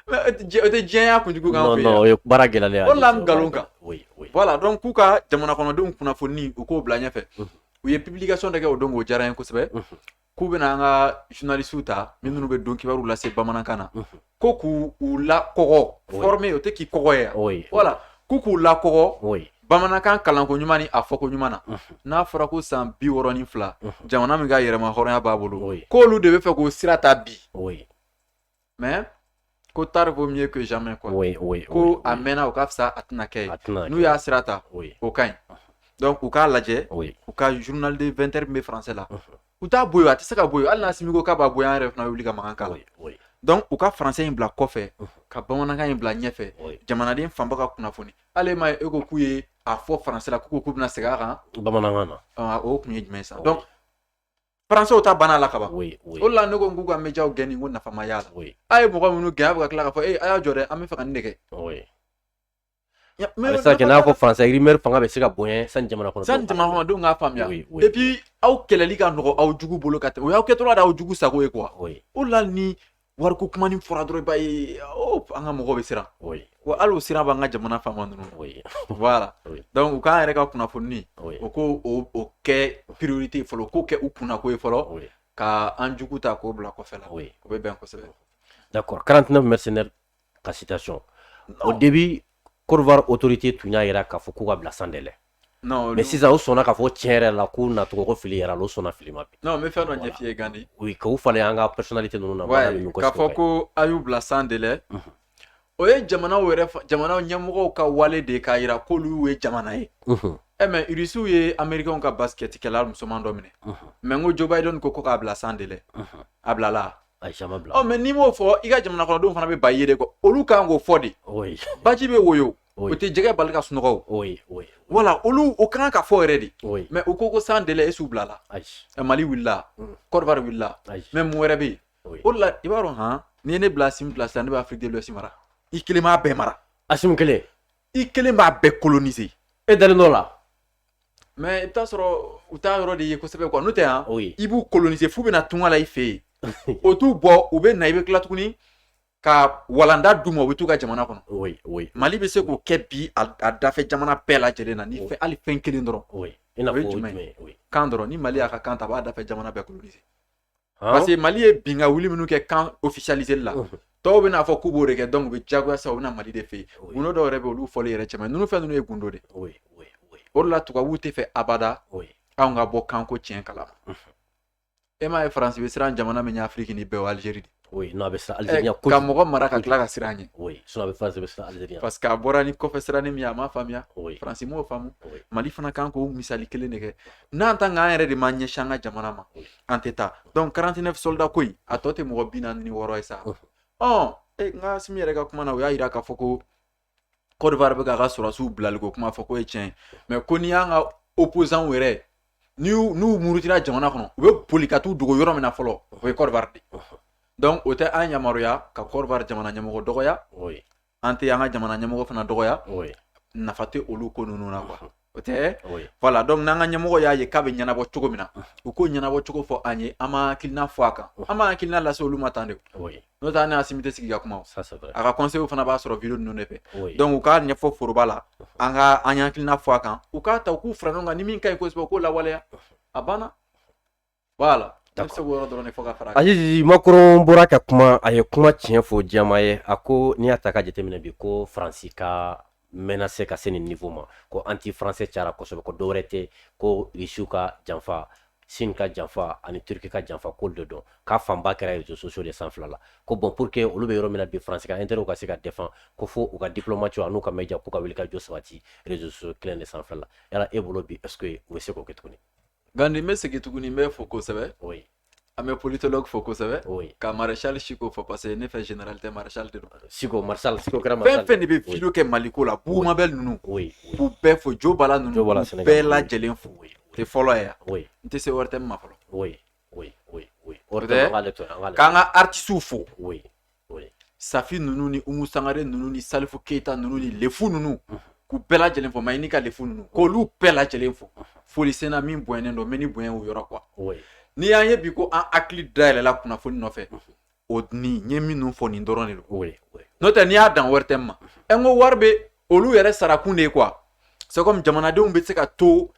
mais o tɛ diɲɛ- o tɛ diɲɛya kunjugu k'an non fɛ non yan o ye baara gɛlɛyalen ye O de la n nkalon kan. oui oui voilà donc k'u ka jamana kɔnɔdenw kunnafoni u k'o bila ɲɛfɛ Mhm. u ye publication dɔ kɛ o don k'o diyara n ye kosɛbɛ Mhm. k'u bɛna an ka journalistes ta min minnu bɛ don kibaruw lase bamanankan na ko k'u u lakɔgɔ former o tɛ k'i kɔgɔ ye yan voilà k'u k'u lakɔgɔ bamanankan kalanko ɲuman ni a fɔko ɲuman na n'a fɔra ko san bi wɔɔrɔ ni fila jamana min ka yɛrɛmahɔrɔnya b'a bolo k'olu de bɛ fɛ k'o sira ta bi mais ko tard vaut mieux que jamais quoi oui, oui, ko oui, a mɛnna o ka fisa a tɛna kɛ ye n'u y'a sira ta oui. o ka ɲi donc u k'a lajɛ oui. u ka journal de 20 heures min bɛ français la u t'a bɔ yen a tɛ se ka bɔ yen hali n'Assimi ko k'a b'a bɔ yen an yɛrɛ fana bɛ wuli ka mankan k'a la donc u ka français in bila kɔfɛ ka bamanankan in bila ɲɛfɛ jamanaden fanba ka kunnafoni hali ma ye e ko k'u ye a fɔ français la k'u ko k'u bɛna segin a kan bamanankan na o tun ye jumɛn ye sa donc Français ta banna la ka ban oui oui o de la ne ko n k'u ka média gɛn nin ko nafa ma y'a la oui a ye mɔgɔ minnu gɛn a bɛ ka tila k'a fɔ ee a y'a jɔ dɛ an bɛ fɛ ka nin de kɛ oui Ya- a bɛ se ka kɛ n'a fɔ français rumeur fanga bɛ se ka bonya sani jamana kɔnɔ sani jamanadenw k'a faamuya oui oui et puis aw kɛlɛli ka nɔgɔ aw jugu bolo ka tɛmɛ o y'aw kɛtɔla de y'aw jugu sago ye quoi oui o de la ni wariko kuma ni fɔra dɔrɔn i b'a ye oh, an ka mɔgɔw bɛ siran wa hali o siran b'an ka jamana faama ninnu voilà donc u k'an yɛrɛ ka kunnafoni u k'o kɛ priorité ye fɔlɔ k'o kɛ u kunna ko ye fɔlɔ ka an jugu ta k'o bila kɔfɛ la o bɛ bɛn kosɛbɛ d'accord 49 mercenaires ka situation au début Côte d'Ivoire autorité tun y'a yira k'a fɔ k'u ka bila sans délai Mais sisan u sɔnna k'a fɔ tiɲɛ yɛrɛ la ko nacogo fili yɛrɛ u sɔnna fili ma n bɛ fɛn dɔ ɲɛf'i ye Gandi k'u falen an ka personnalité ninnu na k'a fɔ ko a y'u bila sans délai o ye jamanaw yɛrɛ jamana ɲɛmɔgɔw ka wale de k'a yira k'olu ye jamana ye ɛ mais Irisiw ye américains ka basikɛtikɛla musoman dɔ minɛ mais n ko Joe Biden ko k'a bila sans délai a bilala mais n'i m'o fɔ i ka jamana kɔnɔdenw fana bɛ ba ye ko olu kan k'o fɔ de baji bɛ woyo o tɛ jɛgɛ bali ka sunɔgɔ o o ye o ye voilà olu o kan ka fɔ yɛrɛ de o ye mais u ko ko sans délai est-ce u bilala ayi ɛ, Mali wulila Mm. Côte d'Ivoire wulila ayi mais mun wɛrɛ bɛ yen o ye o de la i b'a dɔn han n'i ye ne bila Assimi place la sisan ne bɛ Afrique de l'Ouest mara i kelen b'a bɛɛ mara Assimi kelen i kelen b'a bɛɛ coloniser e dalen d'o la mais i bɛ t'a sɔrɔ u t'a yɔrɔ de ye kosɛbɛ quoi n'o tɛ han o ye i b'u coloniser f'u bɛna tunga la i fɛ yen o t'u bɔ u bɛ na i bɛ tila tuguni ka walanda d'u ma u bɛ t'u ka jamana kɔnɔ mali bɛ se k'o kɛ bi a dafɛ jamana bɛɛ la lajɛlen na ni fɛn hali fɛn kelen dɔrɔn kan dɔrɔn ni mali y'a ka kan ta a b'a dafɛ jamana bɛɛ coloniser parce que mali ye bin ka wuli minnu kɛ kan ofisalizeli la tɔw bɛna a fɔ k'u b'o de kɛ donc u bɛ jagoya sa u bɛna mali de fɛ yen gundo dɔw yɛrɛ bɛ olu fɔli yɛrɛ cɛ man ɲi fɛn ninnu ye gundo de o de la tubabuw tɛ fɛ abada anw ka bɔ kanko tiɲɛ kala e m'a ye faransi bɛ siran jamana min ɲɛ afiriki nin bɛɛ o alizeri de oui non a bɛ siran alizeri ɲɛ kojugu ka mɔgɔ mara ka tila ka siran ɲɛ oui sinon a bɛ faransi bɛ siran alizeri ɲɛ parce que a bɔra ni kɔfɛ siranin min ye a m'a faamuya oui faransi m'o faamu oui mali fana kan k'o misali kelen de kɛ n'an tan k'an yɛrɛ de ma ɲɛsin an ka jamana ma Oui. an tɛ taa donc 49 soldats ko in a tɔ tɛ mɔgɔ bi naani ni wɔɔrɔ ye sa Unhun. ɔ e nka asimi yɛrɛ ka kuma na o y'a jira k'a fɔ ko Côte d'Ivoire bɛ k'a ka sɔrɔdasiw bilali ko kuma fɔ k'o ye tiɲɛ ye mais ko n'i y'an ka opozanw yɛrɛ n'u n'u murutira jamana kɔnɔ u bɛ boli ka t'u dogo yɔrɔ min na fɔlɔ o ye Côte d'Ivoire de donc o tɛ an yamaruya ka Côte d'Ivoire jamana ɲɛmɔgɔ dɔgɔya an tɛ an ka jamana ɲɛmɔgɔ fana dɔgɔya nafa tɛ olu ko ninnu na quoi O tɛ voilà donc n'an ka ɲɛmɔgɔ y'a ye k'a bɛ ɲɛnabɔ cogo min na u k'o ɲɛnabɔ cogo fɔ an ye an b'an hakilina fɔ a kan an b'an hakilina lase olu ma tan de n'o tɛ n'asimi tɛ sigi ka kuma a ka conseil fana b'a sɔrɔ vidéo ninnu de fɛ donc u k'a ɲɛfɔ foroba la an ka an y'an hakilina fɔ a kan u k'a ta k'u fara ɲɔgɔn kan ni min ka ɲi kosɛbɛ k'o lawaleya a banna voilà a Macron bɔra ka kuma a ye kuma tiɲɛ fɔ jama ye a ko n'i y'a ta ka jateminɛ bi ko faransi ka menacer ka se nin niveau ma ko anti français cara kosɛbɛ ko dɔwɛrɛ tɛ ko risiw ka janfa Chine ka janfa ani turki ka janfa k'olu de don k'a fanba kɛra réseaux sociaux de sanfɛla la ko bon pour que olu bɛ yɔrɔ min na bi faransi ka intérêt ka se ka défend ko fo u ka diplomatiw an'u ka média k'u ka wuli ka jɔ sabati réseaux sociaux kelen de sanfɛ la yala e bolo bi est-ce que u bɛ se k'o kɛ tuguni Gandi n bɛ segin tuguni b'i fo kosɛbɛ an bɛ politologue fo kosɛbɛ ka maréchal Chico fo parce que ne fɛ général tɛ maréchal de Chico fɛn fɛn de bɛ vidéo kɛ mali ko la Boubou Mabel ninnu b'u bɛɛ fo jo bala ninnu bɛɛ la lajɛlen fo tɛ fɔlɔ yan n tɛ se wɛrɛ tɛ ma fɔlɔ k'an ka artistes fo safi ninnu ni umu sangare ninnu ni salifu keyita ninnu ni lefu ninnu k'u bɛɛ lajɛlen fo mayini ka lefu ninnu k'olu bɛɛ lajɛlen fo foli senna min bonyɛnen don mais ni bonya o yɔrɔ quoi n'i y'an ye bi ko an hakili dayɛlɛla kunnafoni nɔfɛ o ni n ye minnu fɔ nin dɔrɔn de don n'o tɛ n'i y'a dan wɛrɛ tɛ ma ɛ n ko wari bɛ olu yɛrɛ sarakun de ye quoi c'est comme jamanadenw bɛ se ka to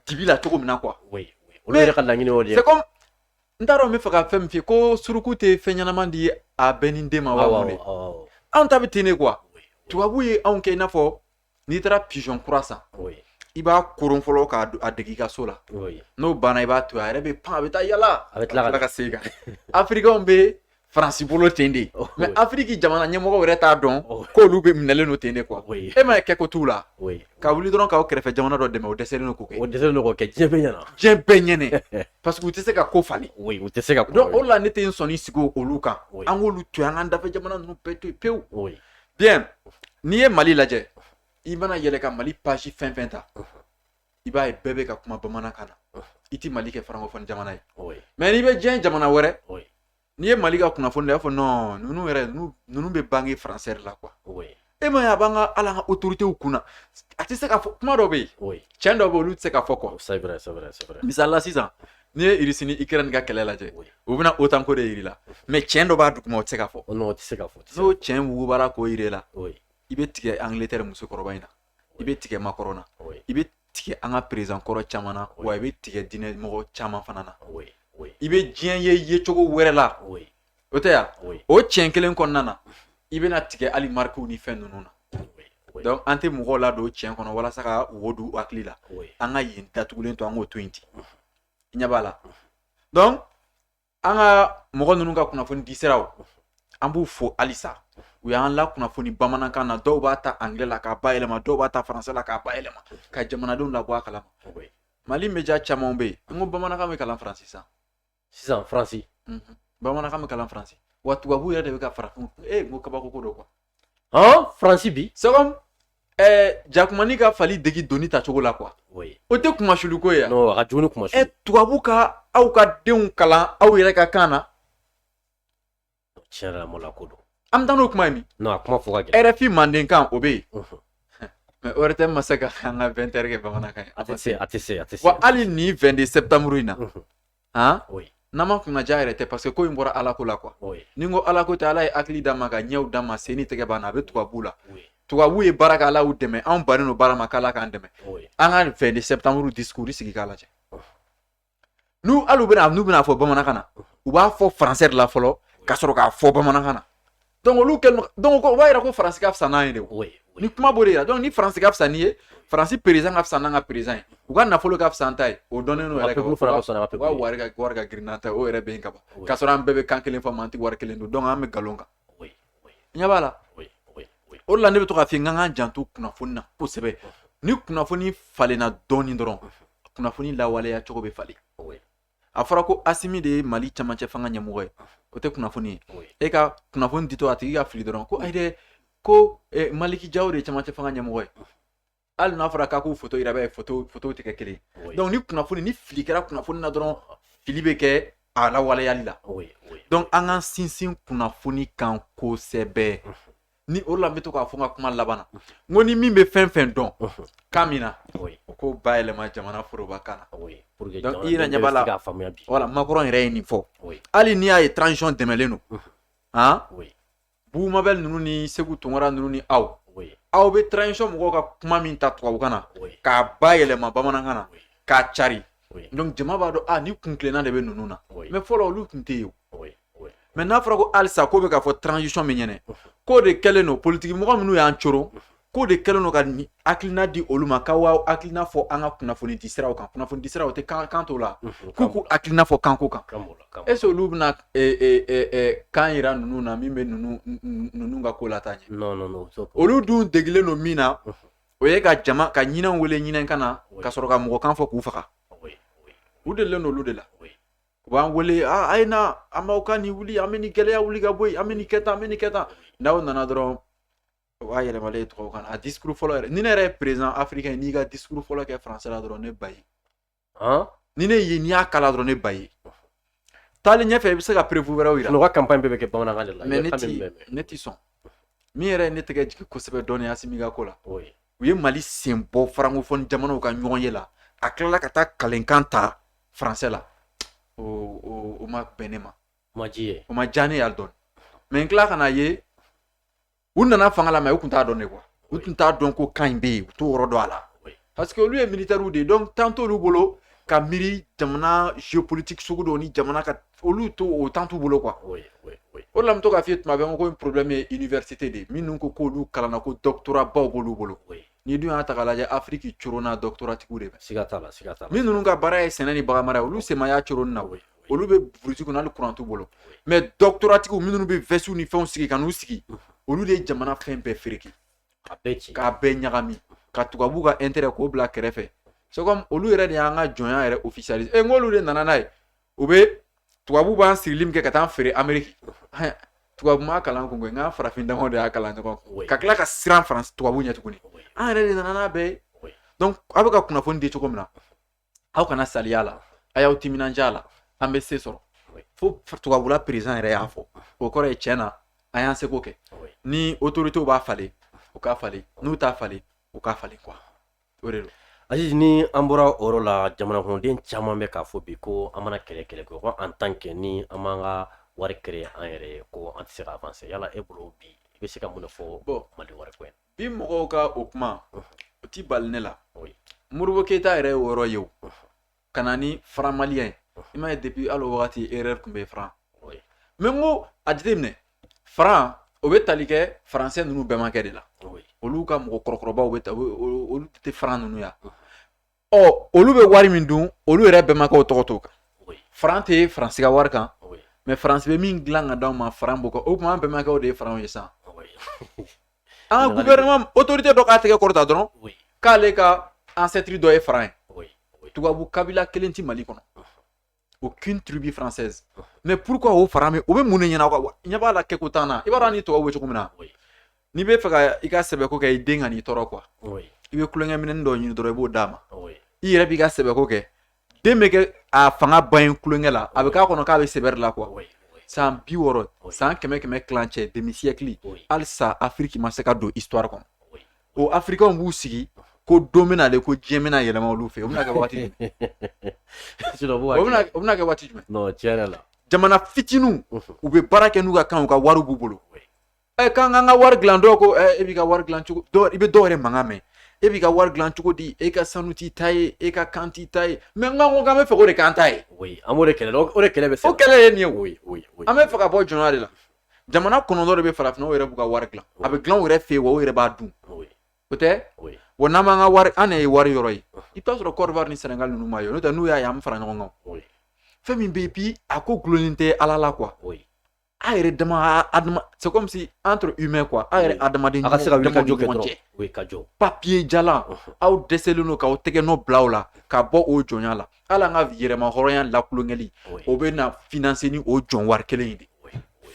dibi la cogo min na quoi oui oui olu yɛrɛ ka laɲini y'o de ye c'est comme n t'a dɔn n bɛ fɛ ka fɛn min f'i ye ko suruku tɛ fɛn ɲɛnama di a bɛɛnin den ma wa awɔ mun de awɔ awɔ anw ta bɛ ten de quoi oui tubabu ye anw kɛ i n'a fɔ n'i taara pigeon kura san oui i b'a koron fɔlɔ k'a do- a dege i ka so la oui n'o banna i b'a to yen a yɛrɛ bɛ pan a bɛ taa yala A bɛ tila ka- ka segin ka na afirikɛnw bɛ faransi bolo ten de oh, mais afiriki jamana ɲɛmɔgɔ wɛrɛ t'a dɔn oh. k'olu bɛ minɛlen don ten de quoi oh, e ma kɛ ko t'u la ka wuli dɔrɔn k'a kɛrɛfɛ jamana dɔ dɛmɛ o dɛsɛlen don k'o kɛ o dɛsɛlen don k'o kɛ diɲɛ bɛɛ ɲɛna diɲɛ bɛɛ ɲɛna parce que u tɛ se ka ko falen u tɛ se ka ko donc o la ne tɛ n sɔnni sigi olu kan an k'olu to yen an k'an dafɛ jamana ninnu bɛɛ to yen pewu bien n'i ye mali lajɛ i mana yɛlɛ ka mali page fɛn fɛn ta i b'a ye bɛɛ bɛ ka kuma bamanankan na i tɛ mali kɛ francophone jamana ye mais n'i bɛ diɲɛ jamana wɛrɛ n'i ye mali ka kunnafoni ta i b'a fɔ non ninnu yɛrɛ ninnu bɛ bange français la quoi e ma ye a b'an ka ala ka autoritéw kunna a tɛ se ka fɔ kuma dɔ bɛ yen cɛn dɔ bɛ olu tɛ se ka fɔ quoi misali la sisan n'i ye irisi ni ikirɛni ka kɛlɛ lajɛ u bɛna otan ko de jira la mais cɛn dɔ b'a duguma o tɛ se ka fɔ n'o cɛn wugubara k'o jira la i bɛ tigɛ angiletɛri musokɔrɔba in na i bɛ tigɛ macron na i bɛ tigɛ an ka président kɔrɔ caman na wa i bɛ tigɛ diinɛ mɔgɔ caman fana na i bɛ diɲɛ ye yecogo wɛrɛ la o tɛ yan o cɛn kelen kɔnɔna na i bɛna tigɛ hali marikiw ni fɛn ninnu na donc an tɛ mɔgɔw ladon cɛn kɔnɔ walasa ka o don u hakili la an ka yen datugulen to an k'o to yen ten i ɲɛ b'a la an ka mɔgɔ ninnu ka kunnafoni di siraw an b'u fo halisa u y'an lakunnafoni bamanankan na dɔw b'a ta anglais la k'a bayɛlɛma dɔw b'a ta français la k'a bayɛlɛma ka jamanadenw labɔ a kalama mali média caman bɛ yen n ko bamanankan bɛ kalan faransi sisan sisan faransi bamanankan bɛ kalan faransi wa tubabu yɛrɛ de bɛ ka farafin n ko kabako ko don quoi faransi bi c'est comme jakumanin ka fali dege doni tacogo la quoi o tɛ kunmasuliko ye tubabu ka aw ka denw kalan aw yɛrɛ ka kan na ko an bɛ taa n'o kuma ye min rfi mandenkan o bɛ yen mais o tɛ ma se ka an ka 20 heures kɛ bamanankan ye a tɛ se a tɛ se wa hali ni 22 septembre in na han oui. n'an ma kunnaja yɛrɛ tɛ parce que ko in bɔra ala ko la quoi oui. ni n ko ala ko tɛ ala ye hakili d'an ma ka ɲɛw d'an ma sen ni tɛgɛ b'an na a bɛ tubabu la oui. tubabu ye baara kɛ ala y'u dɛmɛ anw bannen don baara ma k'ala k'an dɛmɛ oui. an ka 22 septembre discours sigi k'a lajɛ oh. n'u hali u bɛna n'u bɛna fɔ bamanankan na u b'a fɔ français de la fɔlɔ ka sɔrɔ k'a fɔ bamanankan na donc olu kɛlen donc o b'a yira ko faransi ka fisa n'an ye de o nin kuma b'o de yira donc ni faransi ka fisa n'i ye faransi président ka fisa n'an ka président ye u ka nafolo ka fisa n'an ta ye o dɔnnen n'o yɛrɛ kan u ka wari ka wari ka girin n'an ta ye o yɛrɛ bɛ yen ka ban k'a sɔrɔ an bɛɛ bɛ kan kelen fɔ mais an tɛ wari kelen don donc an bɛ nkalon kan ɲɛ b'a la o de la ne bɛ to k'a f'i ye an k'an janto kunnafoni na kosɛbɛ ni kunnafoni falenna dɔɔnin dɔrɔn kunnafoni lawaleya cogo bɛ falen a fɔra ko asimi de ye mali camancɛ fanga ɲɛmɔgɔ ye o tɛ kunnafoni ye e ka kunnafoni ditɔ a tigi ka fili dɔrɔn ko ayi dɛ ko eh, maliki jaw de ye camancɛ fanga ɲɛmɔgɔ ye hali n'a fɔra k'a k'u foto yira b'a ye foto fotow tɛ kɛ kelen ye donc ni kunnafoni ni fili kɛra kunnafoni na dɔrɔn fili bɛ kɛ a lawaleyali la donc an k'an sinsin kunnafoni kan kosɛbɛ ni o la n bɛ to k'a fɔ n ka kuma laban na n ko ni min bɛ fɛn fɛn dɔn kan min na o k'o bayɛlɛma jamana foroba kan na i ɲɛ b'a la voilà macron yɛrɛ ye nin fɔ hali n'i y'a ye transition dɛmɛlen don aa bubu mabɛl ninnu ni seku tunkara ninnu ni aw aw bɛ transition mɔgɔw ka kuma min ta tubabukan na k'a bayɛlɛma bamanankan na k'a cari donc jama b'a dɔn a ah, ni kuntilenna de bɛ ninnu na mais fɔlɔ olu tun tɛ yen mais n'a fɔra ko halisa k'o bɛ k'a fɔ transition min ɲɛnɛ k'o de kɛlen don politiki mɔgɔ minnu y'an coron k'o de kɛlen don ka hakilina di olu ma k'aw hakilina fɔ an ka kunnafoni di siraw kan kunnafoni di siraw tɛ kan kan t'o la k'u k'u hakilina fɔ kanko kan est-ce que olu bɛna kan yira ninnu na min bɛ ninnu ninnu ka ko lataa ɲɛ olu dun degilen don min na o ye ka jama ka ɲinɛw wele ɲinɛkan na ka sɔrɔ ka mɔgɔkan fɔ k'u faga u delilen don olu de la u b'an wele a a ye na an b'aw ka nin wuli an bɛ nin gɛlɛya wuli ka bɔ yen an bɛ nin kɛ tan an bɛ nin kɛ tan n'aw nana dɔrɔn o bayɛlɛmalen ye tubabukan na a discours fɔlɔ yɛrɛ ni ne yɛrɛ ye président africain ye n'i ka discours fɔlɔ kɛ français la dɔrɔn ne b'a ye ni ne ye n'i y'a kalan dɔrɔn ne b'a ye taalen ɲɛfɛ i bɛ se ka preuve wɛrɛw yira u ka campagne bɛɛ bɛ kɛ bamanankan de la mais ne tɛ sɔn min yɛrɛ ye ne tɛgɛ jigin kosɛbɛ dɔɔnin asimi ka ko la u ye mali sen bɔ francophone jamanaw ka ɲɔgɔnye la a tilala ka taa kalenkan ta français la o ma bɛn ne ma o ma diya ne ye hali dɔɔnin mais n tila ka n'a ye u nana fanga la mais u tun t'a dɔn dɛ quoi u tun t'a dɔn ko kan in bɛ yen u t'o yɔrɔ dɔn a la parce que olu ye militɛriw de ye donc temps t'olu bolo ka miiri jamana géopolitique sugu dɔw ni jamana ka olu to o temps t'u bolo quoi o de la n bɛ to k'a f'i ye tuma bɛɛ ko in problème ye université de ye minnu ko k'olu kalanna ko doctorat baw b'olu bolo n'i dun y'a ta k'a lajɛ afiriki coronna doctorat tigiw de fɛ siga t'a la siga t'a la min ninnu ka baara ye sɛnɛ ni baganmara ye olu sen ma y'a coron na koyi olu bɛ burusi kɔnɔ hali kuran t'u bolo mais doctorat tigiw minnu bɛ vɛsiw ni fɛnw sigi ka n'u sigi olu de ye jamana fɛn bɛɛ fereke k'a bɛɛ ɲagami ka tubabu ka intérêt k'o bila kɛrɛfɛ c'est comme olu yɛrɛ de y'an ka jɔnya yɛrɛ officialiser e n k'olu de nana n'a ye u bɛ tubabu b'an sirili min kɛ ka taa feere ameriki tubabu ma kalan kun an farafin dama de y'a kalan ɲɔgɔn kan ka tila ka siran faransi tubabu ɲɛ tuguni an yɛrɛ de nana n'a bɛɛ ye donc aw bɛ ka kunnafoni di cogo min na aw kana salaya a la a y'aw timinandiya a la an bɛ se sɔrɔ fo tubabula président yɛrɛ y'a fɔ o kɔrɔ ye tiɲɛ na an y'an seko kɛ ni autorités b'a falen u k'a falen n'u t'a falen u k'a falen quoi aziz ni an bɔra o yɔrɔ la jamanakɔnɔden caman bɛ k'a fɔ bi ko an mana kɛlɛ kɛlɛ ko ko en tant que ni an b'an ka wari créer an yɛrɛ ko an tɛ se ka avancer yala e bolo bi i bɛ se ka mun de fɔ mali wari ko in na bi mɔgɔw ka o kuma o tɛ bali ne la modibo keyita yɛrɛ ye o yɔrɔ ye o ka na ni franc malien ye i m'a ye depuis hali o waati erreur tun bɛ faran mais n ko a jateminɛ faran o bɛ tali kɛ français ninnu bɛnbakɛ de la olu ka mɔgɔ kɔrɔkɔrɔbaw bɛ olu tɛ faran ninnu yan ɔ olu bɛ wari min dun olu yɛrɛ bɛnbakɛw tɔgɔ t'o kan faran tɛ faransi ka wari kan mais faransi bɛ min dilan ka d' anw ma faran b'o kan o tuma an bɛnbakɛw de ye faranw ye sisan An ka gouvernement autorité dɔ k'a tɛgɛ kɔrɔta dɔrɔn k'ale ka ancêtre dɔ ye faran ye tubabu kabila kelen tɛ Mali kɔnɔ aucune tribu française mais pourquoi o faran bɛ o bɛ mun de ɲɛna quoi ɲɛ b'a la kɛko t'an na i b'a dɔn an ni tubabu bɛ cogo min na n'i bɛ fɛ ka i ka sɛbɛko kɛ i den ka n'i tɔɔrɔ quoi i bɛ kulonkɛ minɛnin dɔ ɲini dɔrɔn i b'o d'a ma i yɛrɛ b'i ka sɛbɛko kɛ den bɛ kɛ a fanga ban yen tulonkɛ la a bɛ k'a kɔnɔ k'a bɛ sɛbɛ de la quoi san bi wɔɔrɔ san kɛmɛ kɛmɛ tilancɛ demi siècle halisa afiriki ma se ka don histoire kɔnɔ o afirikɛnw b'u sigi ko don bɛ na de ko diɲɛ bɛna yɛlɛma olu fɛ o bɛna kɛ waati o bɛna kɛ waati jumɛn jamana fitininw u bɛ baara kɛ n'u ka kan u ka wariw b'u bolo k'an k'an ka wari dilan dɔw ko e b'i ka wari dilan cogo di i bɛ dɔw yɛrɛ mankan mɛn e b'i ka wari dilan cogo di e ka sanu t'i ta ye e ka kan t'i ta ye mais n ko k'an bɛ fɛ o de k'an ta ye an b'o de kɛlɛ o de kɛlɛ bɛ fɛ o kɛlɛ ye nin ye o ye o ye an bɛ fɛ ka bɔ jɔnya de la jamana kɔnɔntɔn de bɛ farafinna u yɛrɛ b'u ka wari dilan a bɛ dilan u yɛrɛ fɛ yen wa u yɛrɛ b'a dun o tɛ wa n'an b'an ka wari an de ye wari yɔrɔ ye i b'a sɔrɔ côte d'ivoire ni sénégal ninnu m'a ye n'o tɛ n'u y'a ye an bɛ fara ɲɔgɔn kan fɛn min bɛ bi a ko dulonnen tɛ ala la quoi a yɛrɛ dama c'est comme si entre humains quoi a yɛrɛ adamaden ɲɔgɔn cɛ ka jɔ kɛ o ye ka jɔ papier jalan aw dɛsɛlen don k'aw tɛgɛ nɔ bila o la ka bɔ o jɔnya la hali an ka yɛrɛmahɔrɔnya lakulonkɛli o bɛna financer ni o jɔn wari kelen in de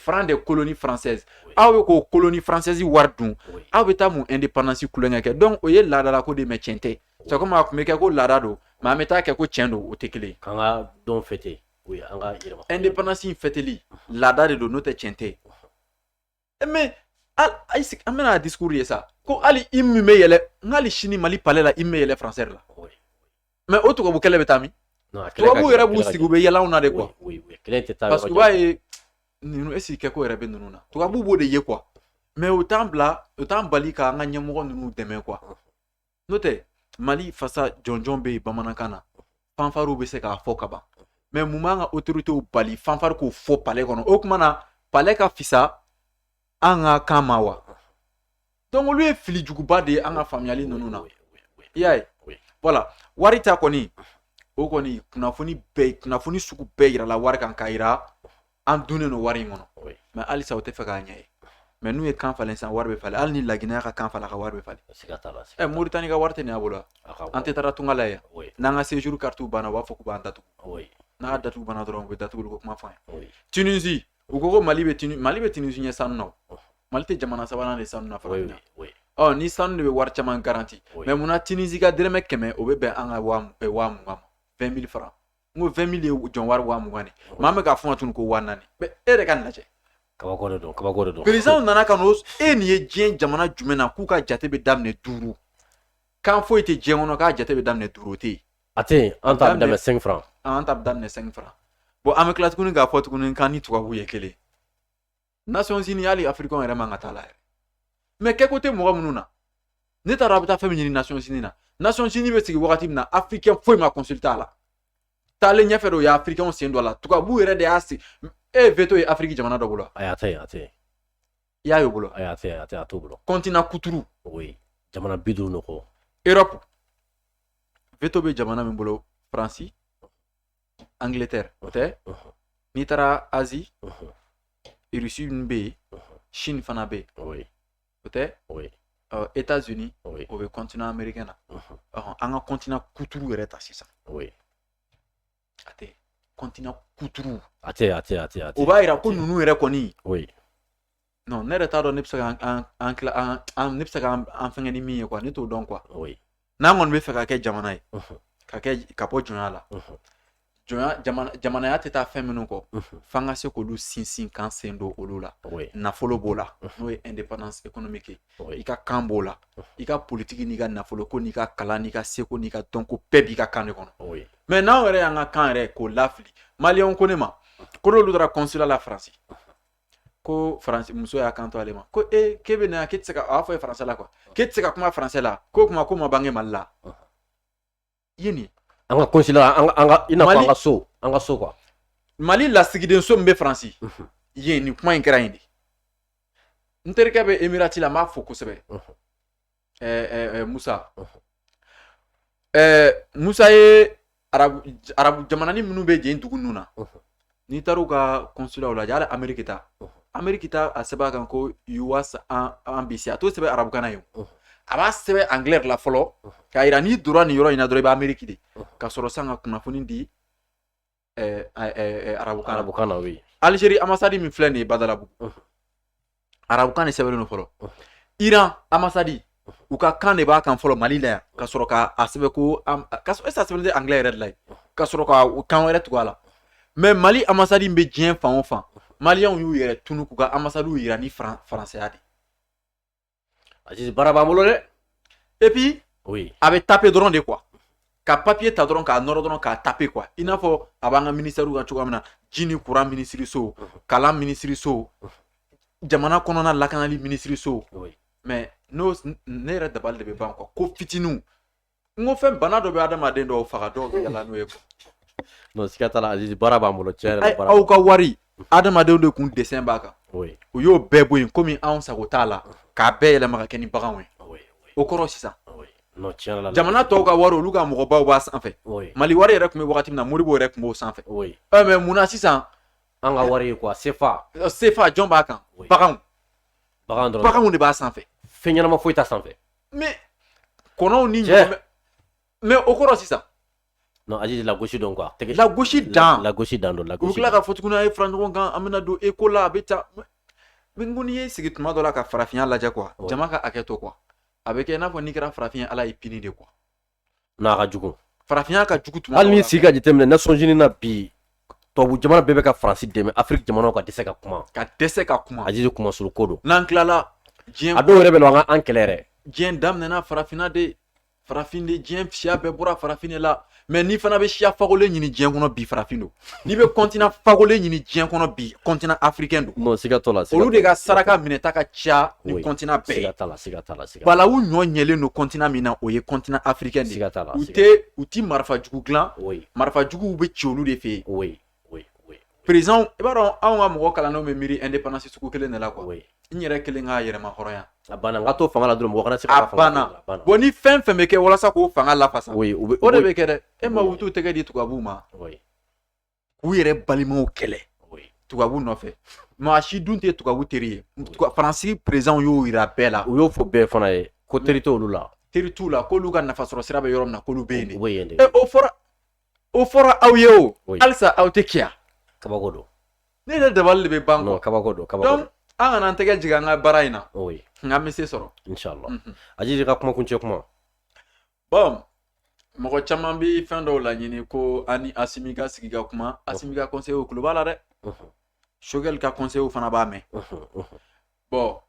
franc de colonie française aw bɛ k'o colonie française wari dun aw bɛ taa mun indépendance kulonkɛ kɛ donc o ye laadala ko de mais tiɲɛ tɛ c'est comme a tun bɛ kɛ ko laada don mais an bɛ taa kɛ ko tiɲɛ don o tɛ kelen ye k'an ka don fêter O ye an ka yɛrɛma indépendance in fêteli laada de don n'o tɛ tiɲɛ tɛ. E mais hali a sigi an bɛna discours ye sa ko hali i min bɛ yɛlɛ n hali sini Mali palais la i min bɛ yɛlɛ français la. Mais o tubabu kɛlɛ bɛ taa min? Tubabu yɛrɛ b'u sigi u bɛ yɛlɛ anw na de quoi. Kɛlɛ tɛ taa yɔrɔ jan. Parce que u b'a ye ninnu est ce que kɛko yɛrɛ bɛ ninnu na tubabu b'o de ye quoi. Mais u t'an bila u t'an bali k'an ka ɲɛmɔgɔ ninnu dɛmɛ quoi. n'o tɛ mali fasa jɔnjɔn bɛ yen bamanankan na fanfariw bɛ se k'a fɔ ka ban mɛ mun b'an ka otoritew bali fanfari k'o fɔ pale kɔnɔ o kuma na pale ka fisa an ka kan ma wa dɔnku olu ye fili juguba de ye an ka faamuyali ninnu na i y'a ye wala wari ta kɔni o kɔni kunnafoni sugu bɛɛ jirala wari kan ka jira an donnen don wari in kɔnɔ mɛ halisa o tɛ fɛ k'a ɲɛ ye mɛ n'u ye kan falen sisan wari bɛ falen hali ni laginɛ ka kan falen ka wari bɛ falen ɛ eh, moritani ka wari tɛ nin a bolo an tɛ taara tunga la yan n'an ka sejuru karitiw banna u b'a fɔ k'u b'an datugu n'a dati banna dɔrɔn u bɛ datugu ko kuma fɔ an ye tunisi u ko ko mali bɛ tunisi mali bɛ tunisi ɲɛ sanu na mali tɛ jamana sabanan ye sanu na fɔlɔ ɔ ni sanu de bɛ wari caman garanti mɛ munna tunisi ka dɛrɛmɛ kɛmɛ o bɛ bɛn an ka waa mugan ma 20 000 francs n ko 20 000 ye jɔn wari waa mugan de mɛ an bɛ k'a fɔ a ma tun ko waa naani mɛ e yɛrɛ k'a lajɛ kabako de don kabako de don par exemple nana ka n'o e nin ye diɲɛ jamana jumɛn na k'u ka jate bɛ daminɛ duuru kan foyi tɛ diɲɛ kɔnɔ k'a jate bɛ daminɛ duuru o tɛ yen a tɛ yen an ta bɛ daminɛ cinq franc an ta bɛ daminɛ cinq franc bɔn an bɛ tila tuguni k'a fɔ tuguni k'an ni tubabuw ye kelen nasɔnsini hali afirikɛn yɛrɛ man kan t'a la yɛrɛ mɛ kɛko tɛ mɔgɔ minnu na n'e taara a bɛ taa fɛn min ɲini nasɔnsini na nasɔnsini bɛ sigi wagati min na afirikɛn foyi ma kɔnsilite a la taalen ɲɛfɛ de o ye afirikɛnw sen don a la tubabu yɛrɛ de y'a sigi e ye veto ye afiriki jamana dɔ bolo ayi a tɛ a tɛ i y'a ye o bolo ayi a tɛ a tɛ a t'o bolo kɔntina kuturu o ye jamana bi duuru ni kɔ erɔpu veto bɛ jamana min bolo faransi Angleterre o tɛ n'i taara Asie Russie bɛ yen Chine fana bɛ yen o tɛ Etats Unis o bɛ continent américain na an ka continent kuturu yɛrɛ ta sisan a tɛ continent kuturu a tɛ a tɛ a tɛ o b'a jira ko ninnu yɛrɛ kɔni ne yɛrɛ t'a dɔn ne bɛ se ka ne bɛ se ka an fɛngɛ ni min ye kuwa ne t'o dɔn kuwa n'an kɔni bɛ fɛ ka kɛ jamana ye ka kɛ ka bɔ jɔnya la jɔnya jamanaya tɛ taa fɛn minnu kɔ f'an ka se k'olu sinsin k'an sen don olu la nafolo b'o la n'o ye indépendance économique ye i ka kan b'o la i ka politiki n'i ka nafolo ko n'i ka kalan n'i ka seko n'i ka dɔnko bɛɛ b'i ka kan de kɔnɔ mɛ n'anw yɛrɛ y'an ka kan yɛrɛ k'o lafili maliyɛnw ko ne ma k'olu taara consulat la faransi ko faransi muso y'a kanto ale ma ko ee k'e bɛ na k'e tɛ se ka a y'a fɔ a ye faransɛ la kuwa k'e tɛ se ka kuma faransɛ la k'o kuma ko ma bange mali la i ye nin ye an ka konsila an ka an ka i n'a fɔ an ka so an ka so kuwa mali lasigiden so min bɛ faransi yen nin kuma in kɛra yen de n terikɛ bɛ emirati la n b'a fo kosɛbɛ musa musa ye arabu arabu jamana ni minnu bɛ yen dugu ninnu na n'i taara u ka kɔnsulaw la yala ameriki ta ameriki ta a sɛbɛn b'a kan ko US embassy a t'o sɛbɛn arabukan na yo a b'a sɛbɛn angilɛ la fɔlɔ k'a yira n'i donna nin yɔrɔ in na dɔrɔn i bɛ ameriki de ka sɔrɔ san ka kunnafoni di arabukan arabukan na yen alizeri amasadi min filɛ nin ye badalabugu arabukan de sɛbɛnnen don fɔlɔ iran amasadi u ka kan de b'a kan fɔlɔ mali la yan ka sɔrɔ ka a sɛbɛn ko ka sɔrɔ esa sɛbɛn tɛ anglɛ yɛrɛ de la yen ka sɔrɔ ka kan wɛrɛ tugu a la mɛ mali amasadi bɛ diɲɛ fan o fan maliyɛnw y'u yɛrɛ tunun k'u ka amasadiw yira ni faransɛya de A baara b'an bolo dɛ epi a bɛ tape dɔrɔn de kuwa ka papiye ta dɔrɔn k'a nɔrɔ dɔrɔn k'a tape kuwa i n'a fɔ a b'an ka minisitɛriw ka cogoya min na ji ni kuran minisiriso kalan minisiriso jamana kɔnɔna lakanali minisiriso mɛ non ne yɛrɛ dabali de bɛ ban kuwa ko fitinin n ko fɛn bana dɔ bɛ adamaden dɔw faga dɔw bɛ yaala n'o ye quoi. non siga t'a la azizi baara b'an bolo tiɲɛ yɛrɛ la Ayi, baara aw ka wari adamadenw de kun dɛsɛn b'a kan oui u y'o bɛɛ bɔ yen komi anw sago t'a la k'a bɛɛ yɛlɛma ka kɛ ni baganw ye oui oui o kɔrɔ sisan oui non tiɲɛ yɛrɛ la jamana tɔw ka wari olu ka mɔgɔbaw b'a sanfɛ oui mali wari yɛrɛ tun bɛ wagati min na modibo yɛrɛ tun b'o sanfɛ oui ɛ mɛ mun na sisan an ka wari ye quoi sefa ɛ, sefa jɔn b'a kan Oui. baganw bagan dɔrɔn baganw de b'a sanfɛ fɛn ɲɛnama foyi t'a sanfɛ mais kɔnɔw ni ɲɔgɔn mais o kɔrɔ sisan non azizi lagosi don quoi tɛgɛ lagosi dan lagosi dan don lagosi u tila k'a fɔ tuguni a ye fara ɲɔgɔn kan an bɛna don eko la a bɛ taa min ko n'i y'i sigi tuma dɔ la ka farafinya lajɛ quoi jama ka hakɛ to quoi a bɛ kɛ i n'a fɔ n'i kɛra farafin ye ala y'i pini de quoi n'a ka jugu farafinya ka jugu tuma hali n'i sigi ka jateminɛ nations unies na bi tubabu jamana bɛɛ bɛ ka faransi dɛmɛ afiriki jamanaw ka dɛsɛ ka kuma ka dɛsɛ ka kuma azizi kuma suru ko don n'an tilala diɲɛ a dɔw yɛrɛ bɛ na an kɛlɛ yɛrɛ diɲɛ daminɛna farafinna de farafin de diɲɛ siya bɛɛ bɔra farafin de la mɛ n'i fana bɛ siya fagolen ɲini diɲɛ kɔnɔ bi farafin don n'i bɛ kɔntina fagolen ɲini diɲɛ kɔnɔ bi kɔntina afirikɛn don non siga t'o la olu de ka saraka minɛta ka ca ni kɔntina bɛɛ siga t'a la siga t'a la siga balawu ɲɔ ɲɛlen don kɔntina min na o ye kɔntina afirikɛn de siga t'a la u tɛ u ti marifa jugu dilan marifa juguw bɛ ci olu de fɛ yen par exemple i b'a dɔn anw ka mɔgɔ kalannenw bɛ miiri ɛndepandansi sugu kelen de la kuwa n yɛrɛ kelen ka yɛrɛmahɔrɔnya a banna n ka to fanga la dɔrɔn mɔgɔ kana se ka fanga a banna bon ni fɛn fɛn bɛ kɛ walasa k'o fanga lafasa o de bɛ kɛ dɛ e ma u t'u tɛgɛ di tubabu ma k'u yɛrɛ balimaw kɛlɛ tubabu nɔfɛ maa si dun tɛ tubabu teri ye faransi présidentw y'o jira bɛɛ la u y'o fɔ bɛɛ fana ye ko teri t'olu la teri t'u la k'olu ka nafa sɔrɔ sira bɛ yɔrɔ min na k'olu bɛ yen e, o fɔra o fɔra aw ye o halisa aw tɛ kiya kabako don ne yɛrɛ dabali de bɛ ban kɔ kabako don kabako don an kana an tɛgɛ jigin an ka baara in na nka an bɛ se sɔrɔ inshallah mhm. aziz i ka kuma kuncɛ kuma bon mɔgɔ caman bɛ fɛn dɔw laɲini ko an ni asimi ka sigi ka kuma asimi ka conseillerw tulo b'a la dɛ choguel ka conseillerw fana b'a mɛn bon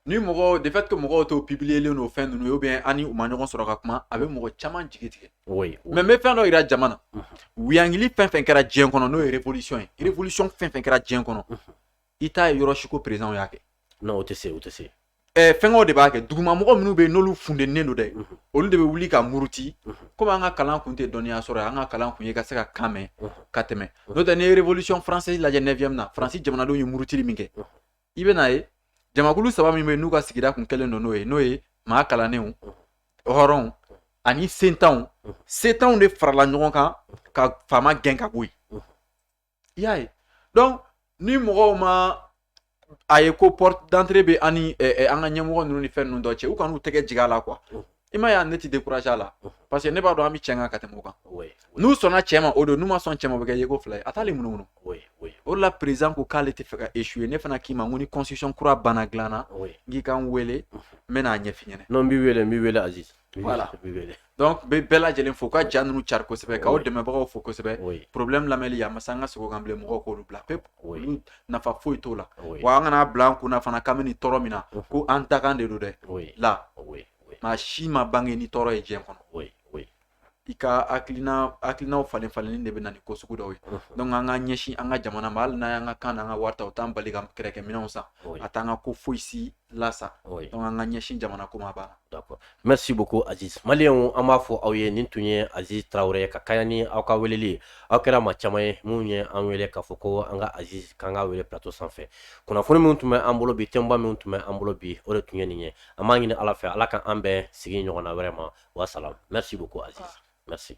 ni mɔgɔ de fait que mɔgɔw t'o publierlen don fɛn ninnu ou bien an ni u ma ɲɔgɔn sɔrɔ ka kuma a bɛ mɔgɔ caman jigi tigɛ mais n bɛ fɛn dɔ jira jama na wuyangili fɛn fɛn kɛra diɲɛ kɔnɔ n'o ye révolution ye révolution fɛn fɛn kɛra diɲɛ kɔnɔ i t'a ye yɔrɔ si ko présidentw y'a kɛ tɛ se o tɛ se eh, fɛnkɛw de b'a kɛ dugumamɔgɔ minnu bɛ yen n'olu fundennen don dɛ olu de bɛ wuli ka muruti komi an ka kalan kun tɛ dɔnniya sɔrɔ an ka kalan kun ye ka se ka kan mɛn ka tɛmɛ n'o tɛ n'i ye révolution française lajɛ 9e na faransi jamanadenw ye murutili min kɛ i bɛn'a ye jamakulu saba min bɛ yen n'u ka sigida kun kɛlen don n'o ye n'o ye maa kalannenw hɔrɔnw ani sentanw sentanw de farala ɲɔgɔn kan ka faama gɛn ka bɔ yen i y'a ye donc ni mɔgɔw ma a ye ko porte d'entrée bɛ an ni eh, eh, an ka ɲɛmɔgɔ ninnu ni fɛn ninnu dɔ cɛ u kan'u tɛgɛ jigin a la quoi i m'a ye a ne tɛ décourager a la parce que ne b'a dɔn an bɛ cɛn kan ka tɛmɛ o kan oui oui n'u sɔnna cɛn ma o don n'u ma sɔn cɛn ma o bɛ kɛ yeko fila ye a t'ale munumunu oui oui o de la président ko k'ale tɛ fɛ ka échouer ne fana k'i ma n ko ni constitution kura banna dilan na oui n k'i ka n wele n bɛna a ɲɛf'i ɲɛna non n b'i wele n b'i wele aziz Voilà. Donc n bɛ bɛɛ lajɛlen fo ka ja ninnu cari kosɛbɛ ka aw dɛmɛbagaw fo kosɛbɛ problème lamɛnli a ma se an ka segin o kan bilen mɔgɔw k'olu bila pewu olu nafa foyi t'o la wa an kan'a bila an kun na fana k'an bɛ nin tɔɔrɔ min na ko an dakan de don dɛ la maa si ma bange ni tɔɔrɔ ye diɲɛ kɔnɔ i ka hakilina hakilinaw falen falenni de bɛ na ni ko sugu dɔw ye donc an ka ɲɛsin an ka jamana ma hali n'an y'an ka kan n'an ka wari ta o t'an bali ka kɛlɛkɛminɛnw san a t'an ka ko foyi si lasa oui. donc an ka ɲɛsin jamana ko ma banna d'accord merci beaucoup aziz maliyɛnw an b'a fɔ aw ye nin tun ye aziz tarawele ka kɛɲɛ ni aw ka weleli ye aw kɛra maa caman ye minnu ye an wele k'a fɔ ko an ka aziz k'an ka wele plateau sanfɛ kunnafoni minnu tun bɛ an bolo bi thèmeba minnu tun bɛ an bolo bi o de tun ye nin ye an b'a ɲini ala fɛ ala ka an bɛn sigi ɲɔgɔnna wɛrɛ ma wasalam merci beaucoup aziz merci